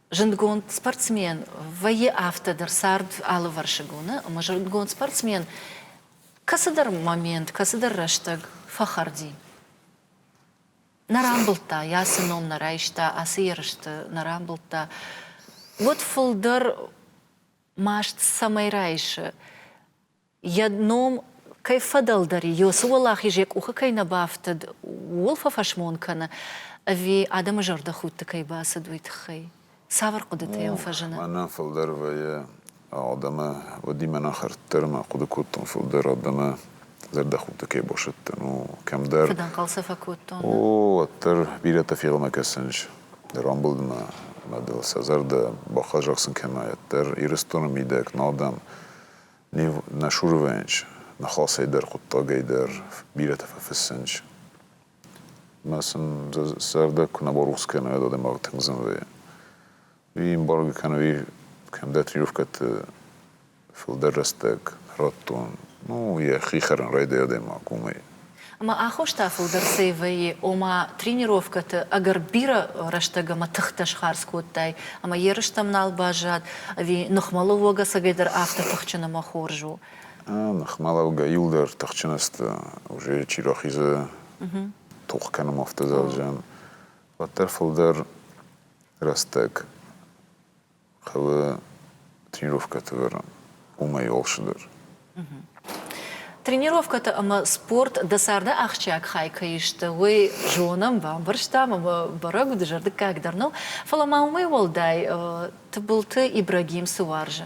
Зындгонд спортсмен вӕййы афтӕдӕр цард алывӕрсыг уыны, ӕмӕ зындгонд спортсмен кӕцыдӕр момент, кӕцыдӕр рӕстӕг фӕхӕрди. Нӕ рамбылдта, йӕ ацы ном нӕ райста, ацы ерысты нӕ рамбылдта. Уӕд фылдӕр маст цӕмӕй райсы, йӕ ном кӕй фӕдӕлдӕр и, уыцы уӕлахиз йӕ къухы кӕй нӕ бафтыд, ууыл фӕфӕсмон кӕны, ӕви адӕмы зӕрдӕхудты кӕй бацыд, уый тыххӕй? Цавӕр хъуыдытӕ йӕм фӕзыны? Мӕнӕ фылдӕр вӕййы адӕмы уыдимӕ нӕ хӕрддӕр, мӕ хъуыды кодтон, фылдӕр адӕмы зӕрдӕхудты кӕй басӕттын у, кӕмдӕр. Фыдӕнхъӕл сӕ фӕкодтон. О, уӕддӕр бирӕтӕ фегъомӕ кӕсынч, рамбылд мӕ мадыл сӕ зӕрдӕ, бахъӕр зӕгъ сын кӕнайӕд дӕр, Ирыстоны мидӕг нал дӕм Нив Нашуровӕнч ныхасӕй дӕр хъуыддагӕй дӕр бирӕтӕ фӕфыссынч. Мӕ сын цӕрдӕг куы нӕ барухс кӕной уӕд адӕймаг тынг зынгӕ. Уый эмбарго кӕнӕ уый кӕм датировкӕты фылдӕр рӕстӕг радтон, ну, йӕхи хӕрын райдайы адӕймаг уымӕй. Ӕмӕ аххос та фылдӕр цӕй вӕййы, ома тренировкӕты ӕгӕр бирӕ рӕстӕг ӕмӕ тыхтӕ схардз кодтай, ӕмӕ ерыстӕм нал баззад, ӕви ныхмӕлӕууӕг ӕцӕгӕйдӕр афтӕ тыхджын ӕмӕ хорз у? Ныхмӕлӕугӕ иу дӕр тыхджын сты, уже чи рахизы тох кӕнӕм автозал джем, уӕддӕр фылдӕр рӕстӕг хъӕуы тренировкӕты вӕрӕн, уымӕй охсыдӕр. Тренировкӕтӕ ӕмӕ спорт дӕ царды ахсджиаг хай кӕй сты, уый зонӕм, бамбӕрстам ӕмӕ бӕрӕг у, дызӕрдыггаг дӕр нӕу, фӕлӕ ма уымӕй уӕлдай Тыбылты Ибрагим цы уарзы,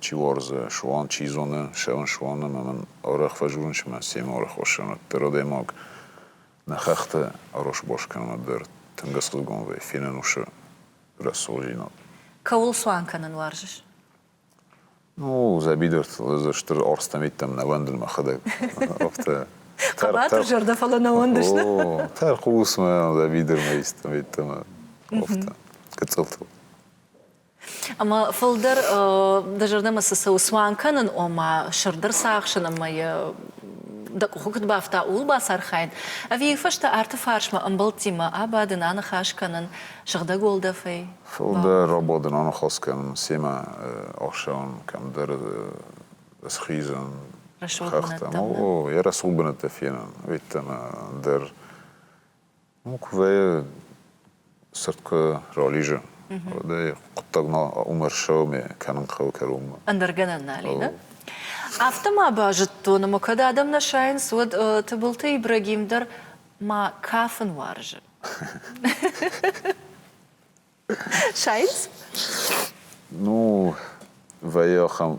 чи уарзы, суанг чи зоны, сӕуын суаны ӕмӕ мын арӕх фӕдзурын, цыма семӕ арӕх уассӕн, уӕддӕр адӕймаг нӕ хӕхты аросбас кӕнын уӕддӕр тынг ӕцӕгдгон вӕййы, фенӕнусы рӕсугъддзинад. Кӕуыл цуан кӕнын уарзыс? Ну, дзӕбидыртыл стыр арстамиттӕм нӕ вӕндын мӕхӕдӕг. Афтӕ Хъӕбатыр зӕрдӕ, фӕлӕ нӕ уӕндыс, нӕ? О, тӕрхъус мӕ, дзӕбидырмӕ, истӕмӕ, афтӕ. Гыццылтыл. Ӕмӕ фылдӕр дӕ зӕрдӕмӕ цы цӕуы цуан кӕнын, ома сырддӕр цахсын ӕмӕ йӕ дӕ къухы куыд бафта, ууыл бацархайын, ӕви иу фӕстӕ арты фарсмӕ ӕмбӕлттимӕ абадын, аныхас кӕнын сыгъдӕг уӕлдӕфӕй? Фылдӕр абадын, аныхас кӕнын, семӕ ӕхсӕвӕн кӕмдӕр схизын, хӕхтӕм, йӕ рӕсугъд бынӕттӕ фенын, ӕвййддӕмӕ дӕр Буквӕйы цырткы рализы. Уӕдӕй хъуыддаг ма уымӕрсауme кӕнын хъӕуы кӕронмӕ. Ӕндӕргӕнӕн нал и, нӕ? Афтӕ ма базыдтон, ӕмӕ кӕд адӕм нӕ сайынц, уӕд Тыбылты Ибрагим дӕр ма кафын уарзы. Сайынц? Ну, вӕййы ахӕм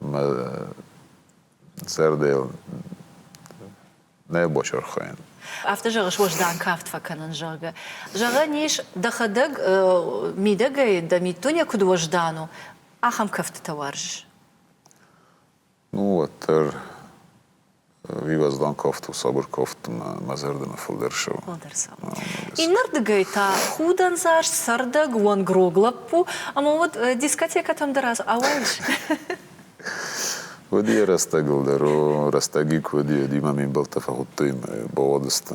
мӕ зӕрдӕйыл нӕ басырхайын. Афтӕ зӕгъыс, уӕздан кафт фӕкӕнын, зӕгъгӕ. Зӕгъӕн ис, дӕхӕдӕг мидӕгӕй дӕ миддуне куыд уӕздан у, ахӕм кӕфтытӕ уарзыс? Ну, уӕддӕр Вивӕздан кафт у, сабыр кафт мӕ, мӕ зӕрдӕмӕ фылдӕр ссӕуы. Фылдӕр цӕуы. Иннӕрдыгӕй та худӕндзаст, цӕрдӕг, уӕнгрог лӕппу, ӕмӕ уӕд дискотекӕтӕм дӕр ауайыс? Уӕд йӕ рӕстӕгыл дӕр у, рӕстӕг и куы уыди, уӕд-иу мӕм ме мбӕлттӕ фӕхуыдтой мӕ бауадысты.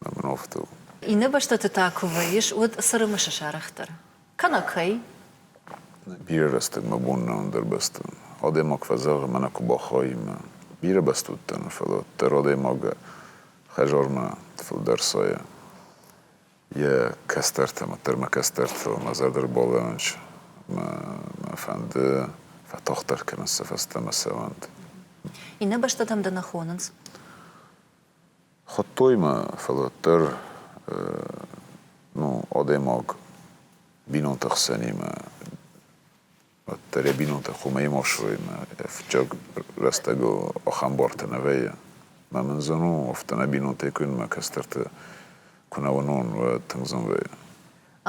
обновтыл. Иннӕ бӕстӕты та куы вӕййыс, уӕд цы рымысы сарӕх дӕр? Кӕнӕ кӕй? Бирӕ рӕстӕг мӕ бон нӕ ӕндӕр бӕстӕ. Адӕймаг фӕзӕгъы, мӕнӕ куы бахайын. Бирӕ баст уыдтӕн, фӕлӕ дӕр адӕймагы хӕдзармӕ фылдӕр сайы йӕ кӕстӕртӕ. Дӕр мӕ кӕстӕртыл мӕ зӕрдӕ рбалӕууынч ӕмӕ мӕ фӕнды фӕтагъддӕр кӕнын сӕ фӕстӕмӕ сӕ уӕнт. Иннӕ бӕстӕтӕм дӕ нӕ хонынц? Хуыдтой мӕ, фӕлӕ дӕр ну адӕймаг бинонты хсӕнимӕ уӕддӕр йӕ бинонтӕ хуымӕй ма ссарыимӕ йӕ фыццаг рӕстӕгыл ахӕм бартӕ нӕ вӕййы. Мӕ мын зӕн у, афтӕ нӕ бинонтӕй куыннӕ кӕстӕрты куы нӕ уынон, уӕд тынг зын вӕййы.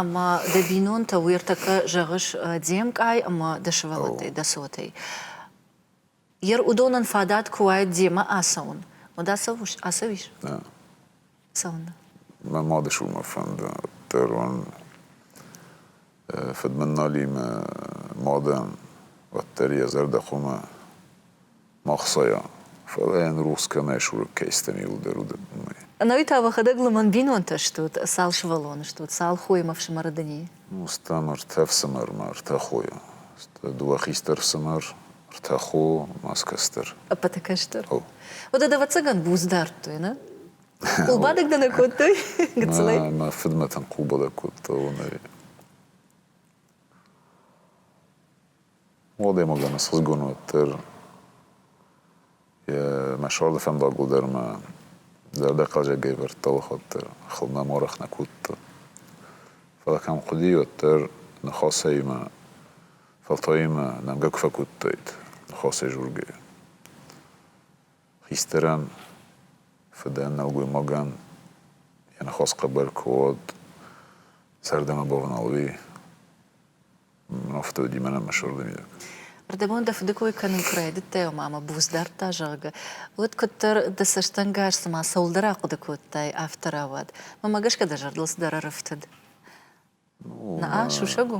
Ӕмӕ дӕ бинонтӕ уӕртӕккӕ зӕгъыс де мкъай ӕмӕ дӕ сывӕллӕттӕй, дӕ цотӕй. Йе уыдонӕн фадат куы уаид демӕ ацӕуын, уӕд ацӕуыс? Ацӕуис? Да. Цӕуын. Мӕ мады суммӕ фӕндаддӕр уын фыдмыналимӕ мадӕн уӕддӕр йӕ зӕрдӕ хъумӕ ма хсайа, фӕлӕ йын рухс кӕмӕй сурыг кӕй стӕмилдӕр уыд, уымӕй. Ӕнӕуый та уӕхӕдӕг лымӕн бинонтӕ стут, цал сывӕллон стут, цал хоймӕ ӕфсымӕры дын и? Мустан ӕртӕ фсымӕрмӕ, ӕртӕ хойӕ. Сты дыууӕ хистӕр фсымӕр, ӕртӕ хо ӕмӕ ӕз кӕстӕр. Ӕппӕты кӕстӕр. О. Уӕдӕ, ӕвӕццӕгӕн, буц дардтой, нӕ? Къулбадӕг дӕ нӕ кодтой? Гыццылӕй? Мӕ фыдмӕ тынг къулбадӕг кодта, уонӕй. Уӕлдӕмогӕн ӕсхъизгун уӕддӕр мӕ суарды фӕндагыл дӕр мӕ зӕрдӕ хъазӕгӕй ӕвардта, уӕхуӕддӕр хыл нӕм уӕрӕх нӕ кодта. Фӕлӕ кӕм хъуыди, уӕддӕр ныхасӕимӕ, фӕлтаимӕ нӕмгӕ куы фӕкодтаид, ныхасӕй дзургӕйӕ. Хистӕрӕн, фыдӕн, нӕлгоймагӕн йӕ ныхас хъӕбӕр куы уӕд, зӕрдӕмӕ бавналуй. афтӕ уыди мӕнӕ мӕсуырдӕр йӕ. Ардӕмон дӕ фыды кой кӕнын куы райдыдтай, ӕмӕ мӕ буц дардта, зӕгъгӕ, уӕд куыддӕр дӕ цӕстӕнгас цыма цӕуылдӕр ахъуыды кодтай, афтӕ рауад. Мӕнмӕ гӕсгӕ дӕ зӕрдыл цыдӕр ӕрӕфтыд. Наа, сусӕг у?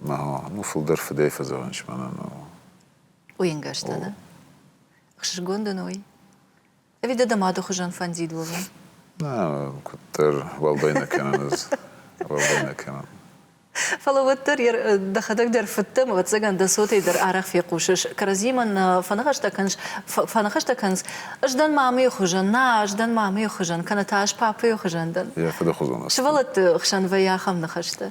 Ну, фылдӕр фыдӕй фӕзӕгъынц мӕнӕн. Уйынгӕстӕ, да? Ӕхсызгон дын уый? Ӕви дӕ дӕ мады хуызӕн фӕндид уӕвын? Нӕ, куыддӕр уӕлдай нӕ кӕнын ӕз. Уӕлдай нӕ кӕнын. Фӕлӕ уӕддӕр дӕхӕдӕг дӕр фыд дӕ, ӕвӕццӕгӕн дӕ цотӕй дӕр арӕх фехъусыс. Кӕрӕдзимӕ нӕ фӕныхӕстӕ кӕныс, фӕныхӕстӕ кӕныс. Ӕз дӕн мамӕйы хуызӕн, нӕ, ӕз дӕн мамӕйы хуызӕн, кӕнӕ та ӕз папӕйы хуызӕн дӕн. Йӕ фыды хуызӕн. Сывӕллӕтты хсӕн вӕййы ахӕм ныхӕстӕ.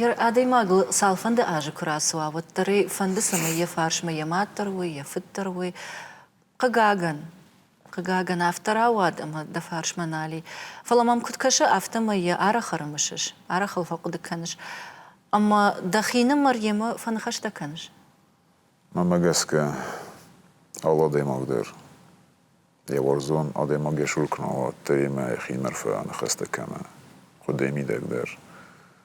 Йӕ адӕймагыл цалфӕнды азы куы рацуа, уӕддӕр ӕй фӕнды, цӕмӕй йӕ фарсмӕ йӕ мад дӕр уой, йӕ фыд дӕр уой. Хъыгагӕн, хъыгагӕн, афтӕ рауад, ӕмӕ дӕ фарсмӕ нал и. Фӕлӕ мӕм куыд кӕсы, афтӕмӕй йӕ арӕх ӕрымысыс, арӕх ыл фӕхъуыды кӕныс. Ӕмӕ дӕхинымӕр йемӕ фӕныхӕстӕ кӕныс? Мӕнмӕ гӕсгӕ, алы адӕймаг дӕр Е уарзон адӕймаг ес улкмӕ, уӕддӕр имӕ ӕхе иннӕрфӕ аныхӕстӕ кӕмӕ хъуыдӕй мидӕг дӕр.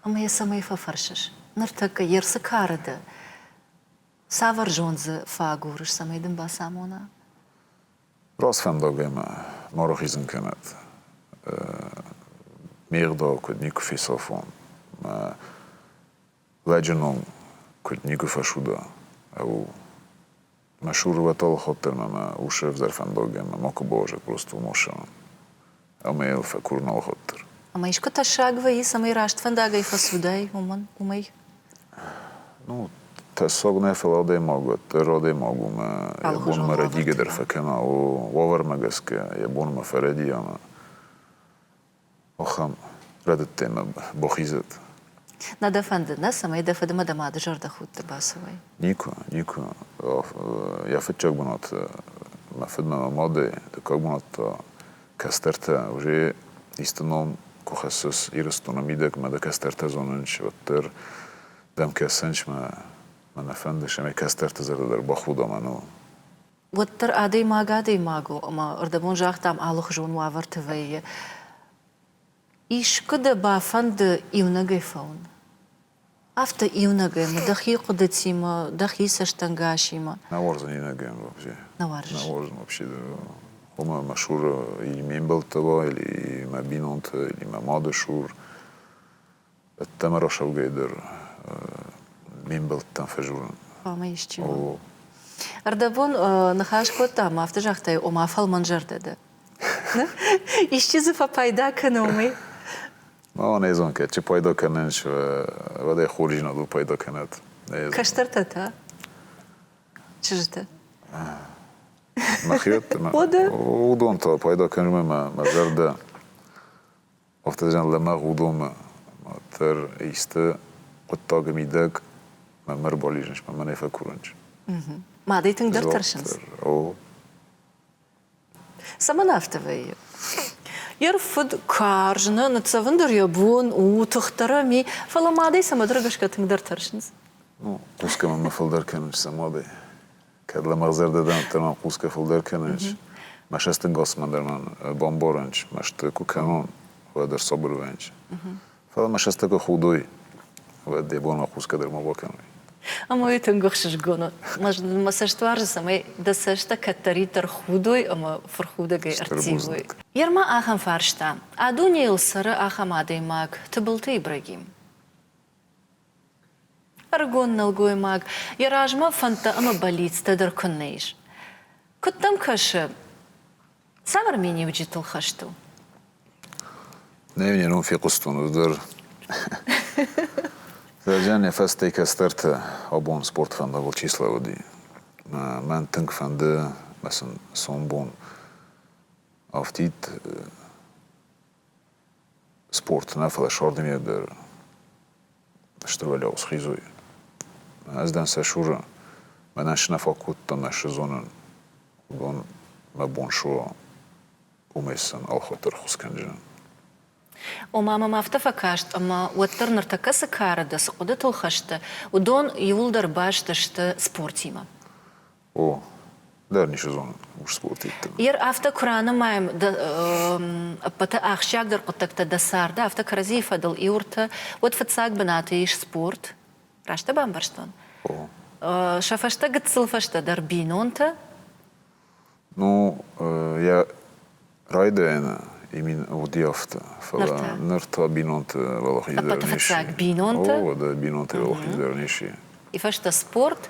Ӕмӕ йӕ цӕмӕй фӕфӕрсыс? Ныртӕккӕ йе рцы кары дӕ? Цавӕр зонд дзы фӕагурыс, цӕмӕй дын бацамона? Раст фӕндаг ӕмӕ ма рахизын кӕнӕд. Ме гъдау куыд никуы фесафон. Мӕ Лӕджы ном куыд никуы фӕсуда, ау, мӕ сурвӕт алыхуӕддӕр ӕмӕ усы ӕвзӕр фӕндагӕй мӕ макуы бауазӕг просто Мосӕмӕн, ӕмӕ йыл фӕкурын алыхуӕддӕр. Ӕмӕ искуы тӕссаг вӕййы, цӕмӕй раст фӕндагӕй фӕцудай, уымӕн, уымӕй? Ну, тӕссаг нӕ, фӕлӕ адӕймаг уӕддӕр адӕймаг у мӕ йӕ бон мӕрӕдигӕдӕр фӕкӕна, уавӕрмӕ гӕсгӕ йӕ бонмӕ фӕрӕди ӕмӕ Ахӕм рӕдыдтемӕ Бохизӕт. Нӕ дӕ фӕнды, нӕ? Цӕмӕй дӕ фыдмӕ дӕ мады зӕрдӕхудты бацӕуай? Никуы, никуы. Йӕ фыццаг бынат мӕ фыдмӕ мӕ мадӕй, дыккаг бынат та кӕстӕртӕ. Уже исты ном куы хӕссыс Ирыстоны мидӕгмӕ, дӕ кӕстӕртӕ зонынч, уӕддӕр дӕм кӕсынч мӕ мӕ нӕ фӕндыс, ӕмӕ кӕстӕрты зӕрдӕ дӕр бахуда мӕныл. уӕддӕр адӕймаг адӕймаг у, ӕмӕ рдӕбон загътам алыхуызон уавӕрты вӕййы. Искуы дӕ бафӕнды иунӕгӕй фӕуын? Афтӕ иунӕгӕй мӕ дӕхи хъуыдытимӕ, дӕхи цӕстӕнгасимӕ. Нӕ уарзын иунӕгӕн вообще. Нӕ уарзыс? Нӕ уарзын вообще. Хъуамӕ мӕ Шуры, или ме мбӕлттӕ уа, или мӕ бинонтӕ, или мӕ мады Шур. ӕддӕмӕ рӕсаугӕй дӕр ме мбӕлттӕм фӕдзурын. Ӕмӕ исчи ма? Ӕрдӕбон ныхас кодта ӕмӕ афтӕ загътай, ома фӕлмӕнзӕрдӕ дӕ. Исчи дзы фӕпайда кӕны уымӕй? Мамӕ нӕ зон, кӕд чи пайда кӕнын, уӕд ӕй хорздзинадыл пайда кӕнӕд. Кӕстӕртӕ та? Чызджытӕ? Мӕхиуӕтты? Уыдон та пайда кӕнынмӕ мӕ зӕрдӕ Автозӕн лӕмӕгъ уыдоны дӕр исты хъуыддагы мидӕг мӕ рбализынс, мӕ мӕнӕй фӕкурынч. Мадӕй тынгдӕр тӕрсынц. О. Цӕмӕн афтӕ вӕййы? Йӕ рфыд карз, нӕ ныццӕвын дӕр йӕ бон у, тыхдӕрӕн и, фӕлӕ мадӕй цӕмӕдӕр гӕсгӕ тынгдӕр тӕрсынц. Ну, хъусгӕ мӕ фылдӕр кӕнынч сӕ мадӕй. Кӕд лӕмӕгъзӕрдӕдӕнттӕ ма хъусгӕ фулдӕр кӕнис, масӕстинг Османдар ма бамборӕнч, маст ку кӕнон, уӕд ӕрсабур уӕнч. Фал масӕстӕ ку худой, уӕд де бон хъусгӕ дӕр ма бакӕнуй. Ӕма уой тынг ӕхсызгон уод. Мӕ цӕст уарзы, цӕмӕй дӕ цӕстӕ кӕддӕриддӕр худой ӕмӕ фырхудӕгӕй ӕрттивой. Ерма ахӕм фарста, а дунейыл цӕры ахӕм адӕймаг, Тыбылты Ибрагим. Ӕрыгон нӕлгоймаг йӕ размӕ фӕндтӕ ӕмӕ бӕллицтӕ дӕр куыннӕ ис. Куыд дӕм кӕсы, цавӕр миниуджытыл хӕст у? Нӕ йын йӕ ном фехъуыстон, уый дӕр. Зӕджан йӕ фӕстӕ кӕстӕрты абон спорт фӕндагыл чи слӕууыди. Мӕн тынг фӕнды, сын сомбон афтид спорты нӕ, фӕлӕ сӕрдынӕй дӕр Стыр Валиау схизой. Ӕз дӕн сӕ Шуры, мӕнӕн сын нӕ фӕкодтон нӕ сезонын. Уыдон мӕ бон суа, уымӕй сын ӕлхатыр хус кӕнджын. Ома мӕм афтӕ фӕкаст, ӕмӕ уӕддӕр ныртӕккӕ цы кары дӕ, цы хъуыдытыл хӕсты, уыдон иуылдӕр баст сты спортимӕ. О, дӕр ницы зонын Устъоты иттӕг. Ер афтӕ куы ранымайӕм, дӕ ӕппӕты ахсджиагдӕр хъуыддӕгтӕ дӕ царды, афтӕ кӕрӕдзийы фӕдыл иу ӕртӕ, уӕд фыццаг бынаты ис спорт. Раст дӕ бамбӕрстон? О. Сӕ фӕстӕ гыццыл фӕстӕдӕр бинонтӕ. Ну, йӕ райдайӕны имин уыди афтӕ. Фӕлӕ ныр та, ныр та бинонты уӕлахиздӕрӕн ис. Ӕппӕты фыццаг бинонтӕ. О, дӕ бинонты уӕлахиздӕрӕн ис. И фӕстӕ спорт.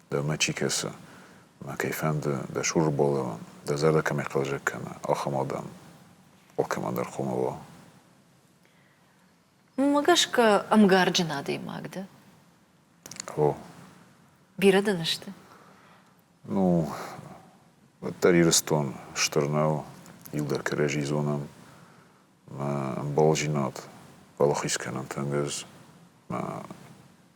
Дӕ мӕ чи кӕсы, мӕ кӕй фӕнды, дӕ Шуры Болеуан, дӕ зӕрдӕ кӕмӕй хъӕлдзӕг кӕна, ахӕм адӕм алкӕмӕн дӕр хъомыл уа. Уымӕ гӕсгӕ ӕмгарджын адӕймаг дӕ? О. Бирӕ дын сты? Ну, уӕддӕр Ирыстон стыр нӕу, иу дӕр кӕрӕдзи зонӕм. Мӕ ӕмбалдзинад балахиз кӕнӕнт ӕнгӕс мӕ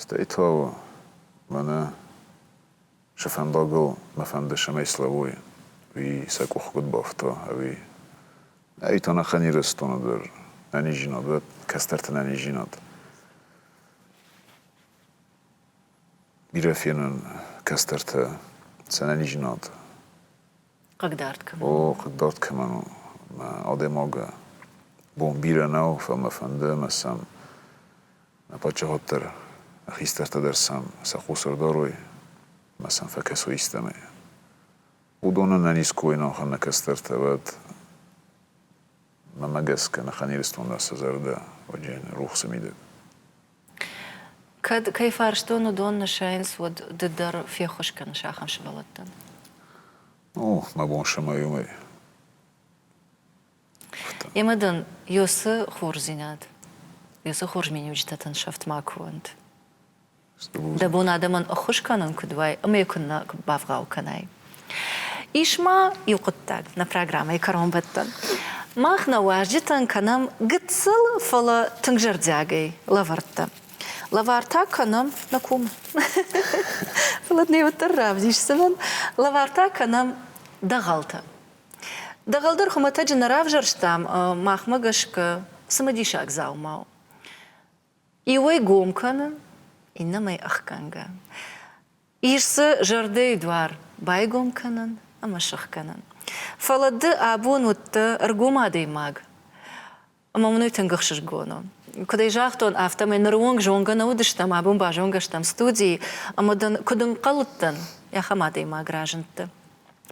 Стӕй та у, мӕнӕ сӕ фӕндагыл мӕ фӕнды сӕмӕй слӕууой, уый сӕ къух куыд бафта, ӕви. Ӕй та нӕхӕн Ирыстоны дӕр ӕнизинад, уӕд кӕстӕрты ӕнизинад. Бирӕ фенын кӕстӕрты сӕ ӕнизинад Хъыгдард кӕмӕн? О, хъыгдард кӕмӕн у? Мӕ адӕймаг бон бирӕ нӕу, фӕлӕ мӕ фӕнды ӕмӕ сӕм мӕ паддзахад дӕр, мӕ хистӕртӕ дӕр сӕм сӕ хъус ӕрдарой ӕмӕ сӕм фӕкӕсой истӕмӕй. Уыдонӕн ӕниз кой нӕу, ахӕм нӕ кӕстӕртӕ, уӕд Мӕмӕ гӕсгӕ Ныханирыстонмӕ цы зӕрдӕ уыди рухсы мидӕг? Кӕд, кӕй фарстон, уыдон нысайынц, уӕд ды дӕр феххуыс кӕныс ахӕм сывӕллӕттӕн? О, мӕ бон сымайы уымӕй. Ӕмӕ дын й'оцы хорздзинад, й'оцы хорз миниуджытӕ тын сӕфт макуы уӕнт. Дӕ бон адӕмӕн ӕххуыс кӕнын куыд уай, ӕмӕ йӕ куыннӕ бавгъау кӕнай. Ис ма иу хъуыддаг нӕ программӕйы кӕронбӕттӕн. Мах нӕ уазджытӕн кӕнӕм гыццыл, фӕлӕ тынг зӕрдиагӕй лӕвӕрттӕ. Лӕвар та кӕнӕм нӕ кум. Фӕлӕ дын уӕддӕр равдисдзынӕн. Лӕвар та кӕнӕм дӕгъӕлтӕ. Дӕгъӕл дӕр хуымӕтӕджы нӕ равзӕрстам махмӕ гӕсгӕ цымыдисаг дзаума у. Иуӕй гом кӕны, иннӕмӕй ӕхгӕнгӕ. Ис дзы зӕрдӕйы дуар байгом кӕнын ӕмӕ сыхгӕнын. Фӕлӕ ды абон уыдтӕ ӕргом адӕймаг. Ӕмӕ мын уый тынг ӕхсызгон у. Куыд ӕй загътон, афтӕмӕй ныры онг зонгӕ нӕ уыдыстӕм, абон базонгӕ стӕм студийы, ӕмӕ дын, куыд ӕнхъӕл уыдтӕн, ахӕм адӕймаг разындтӕ.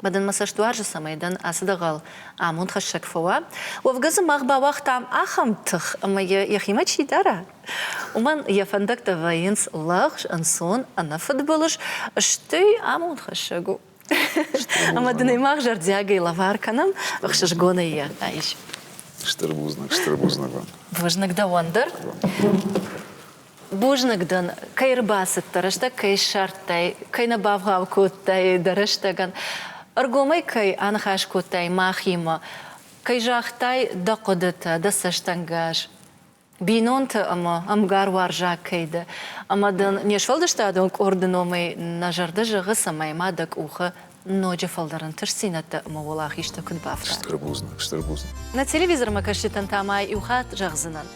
Ма дын мӕ цӕстуарзы цӕмӕй дӕн ацы дӕгъӕл амондхӕссӕг фӕуа. Уӕвгӕ дзы мах бауагътам ахӕм тых, ӕмӕ йӕ йӕхимӕ чи дара, уымӕн йӕ фӕндӕгтӕ вӕййынц лӕгъз, ӕнцон, ӕнӕфыдбылыз, стӕй амондхӕссӕг у. Ӕмӕ дын ӕй мах зӕрдиагӕй лӕвар кӕнӕм, ӕхсызгонӕй йӕ айс. Стыр бузныг, стыр бузныг уӕм. Бузныг дӕуӕн дӕр. Бузныг дын, кӕй ӕрбацыдтӕ, рӕстӕг кӕй ссардтай, кӕй нӕ бавгъау кодтай дӕ рӕстӕгӕн, ӕргомӕй кӕй аныхас кодтай мӕхимӕ, кӕй загътай дӕ хъуыдытӕ, дӕ цӕстӕнгас, бинонты ӕмӕ ӕмгаруарзаг кӕй дӕ, ӕмӕ дын не сфӕлдыстадон къорды номӕй нӕ зӕрдӕ зӕгъы, цӕмӕй ма дӕ къухы ноджы фылдӕр ӕнтыстдзинӕдтӕ ӕмӕ уӕлахизтӕ куыд бафтат? Стыр бузныг, стыр бузныг. Нӕ телевизормӕкӕсджытӕн та ма иу хатт зӕгъдзынӕн,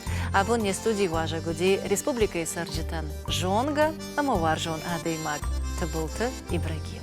абон не студийы уазӕг уыди республикӕйы цӕрджытӕн зонгӕ ӕмӕ уарзон адӕймаг Тыбылты Ибрагим.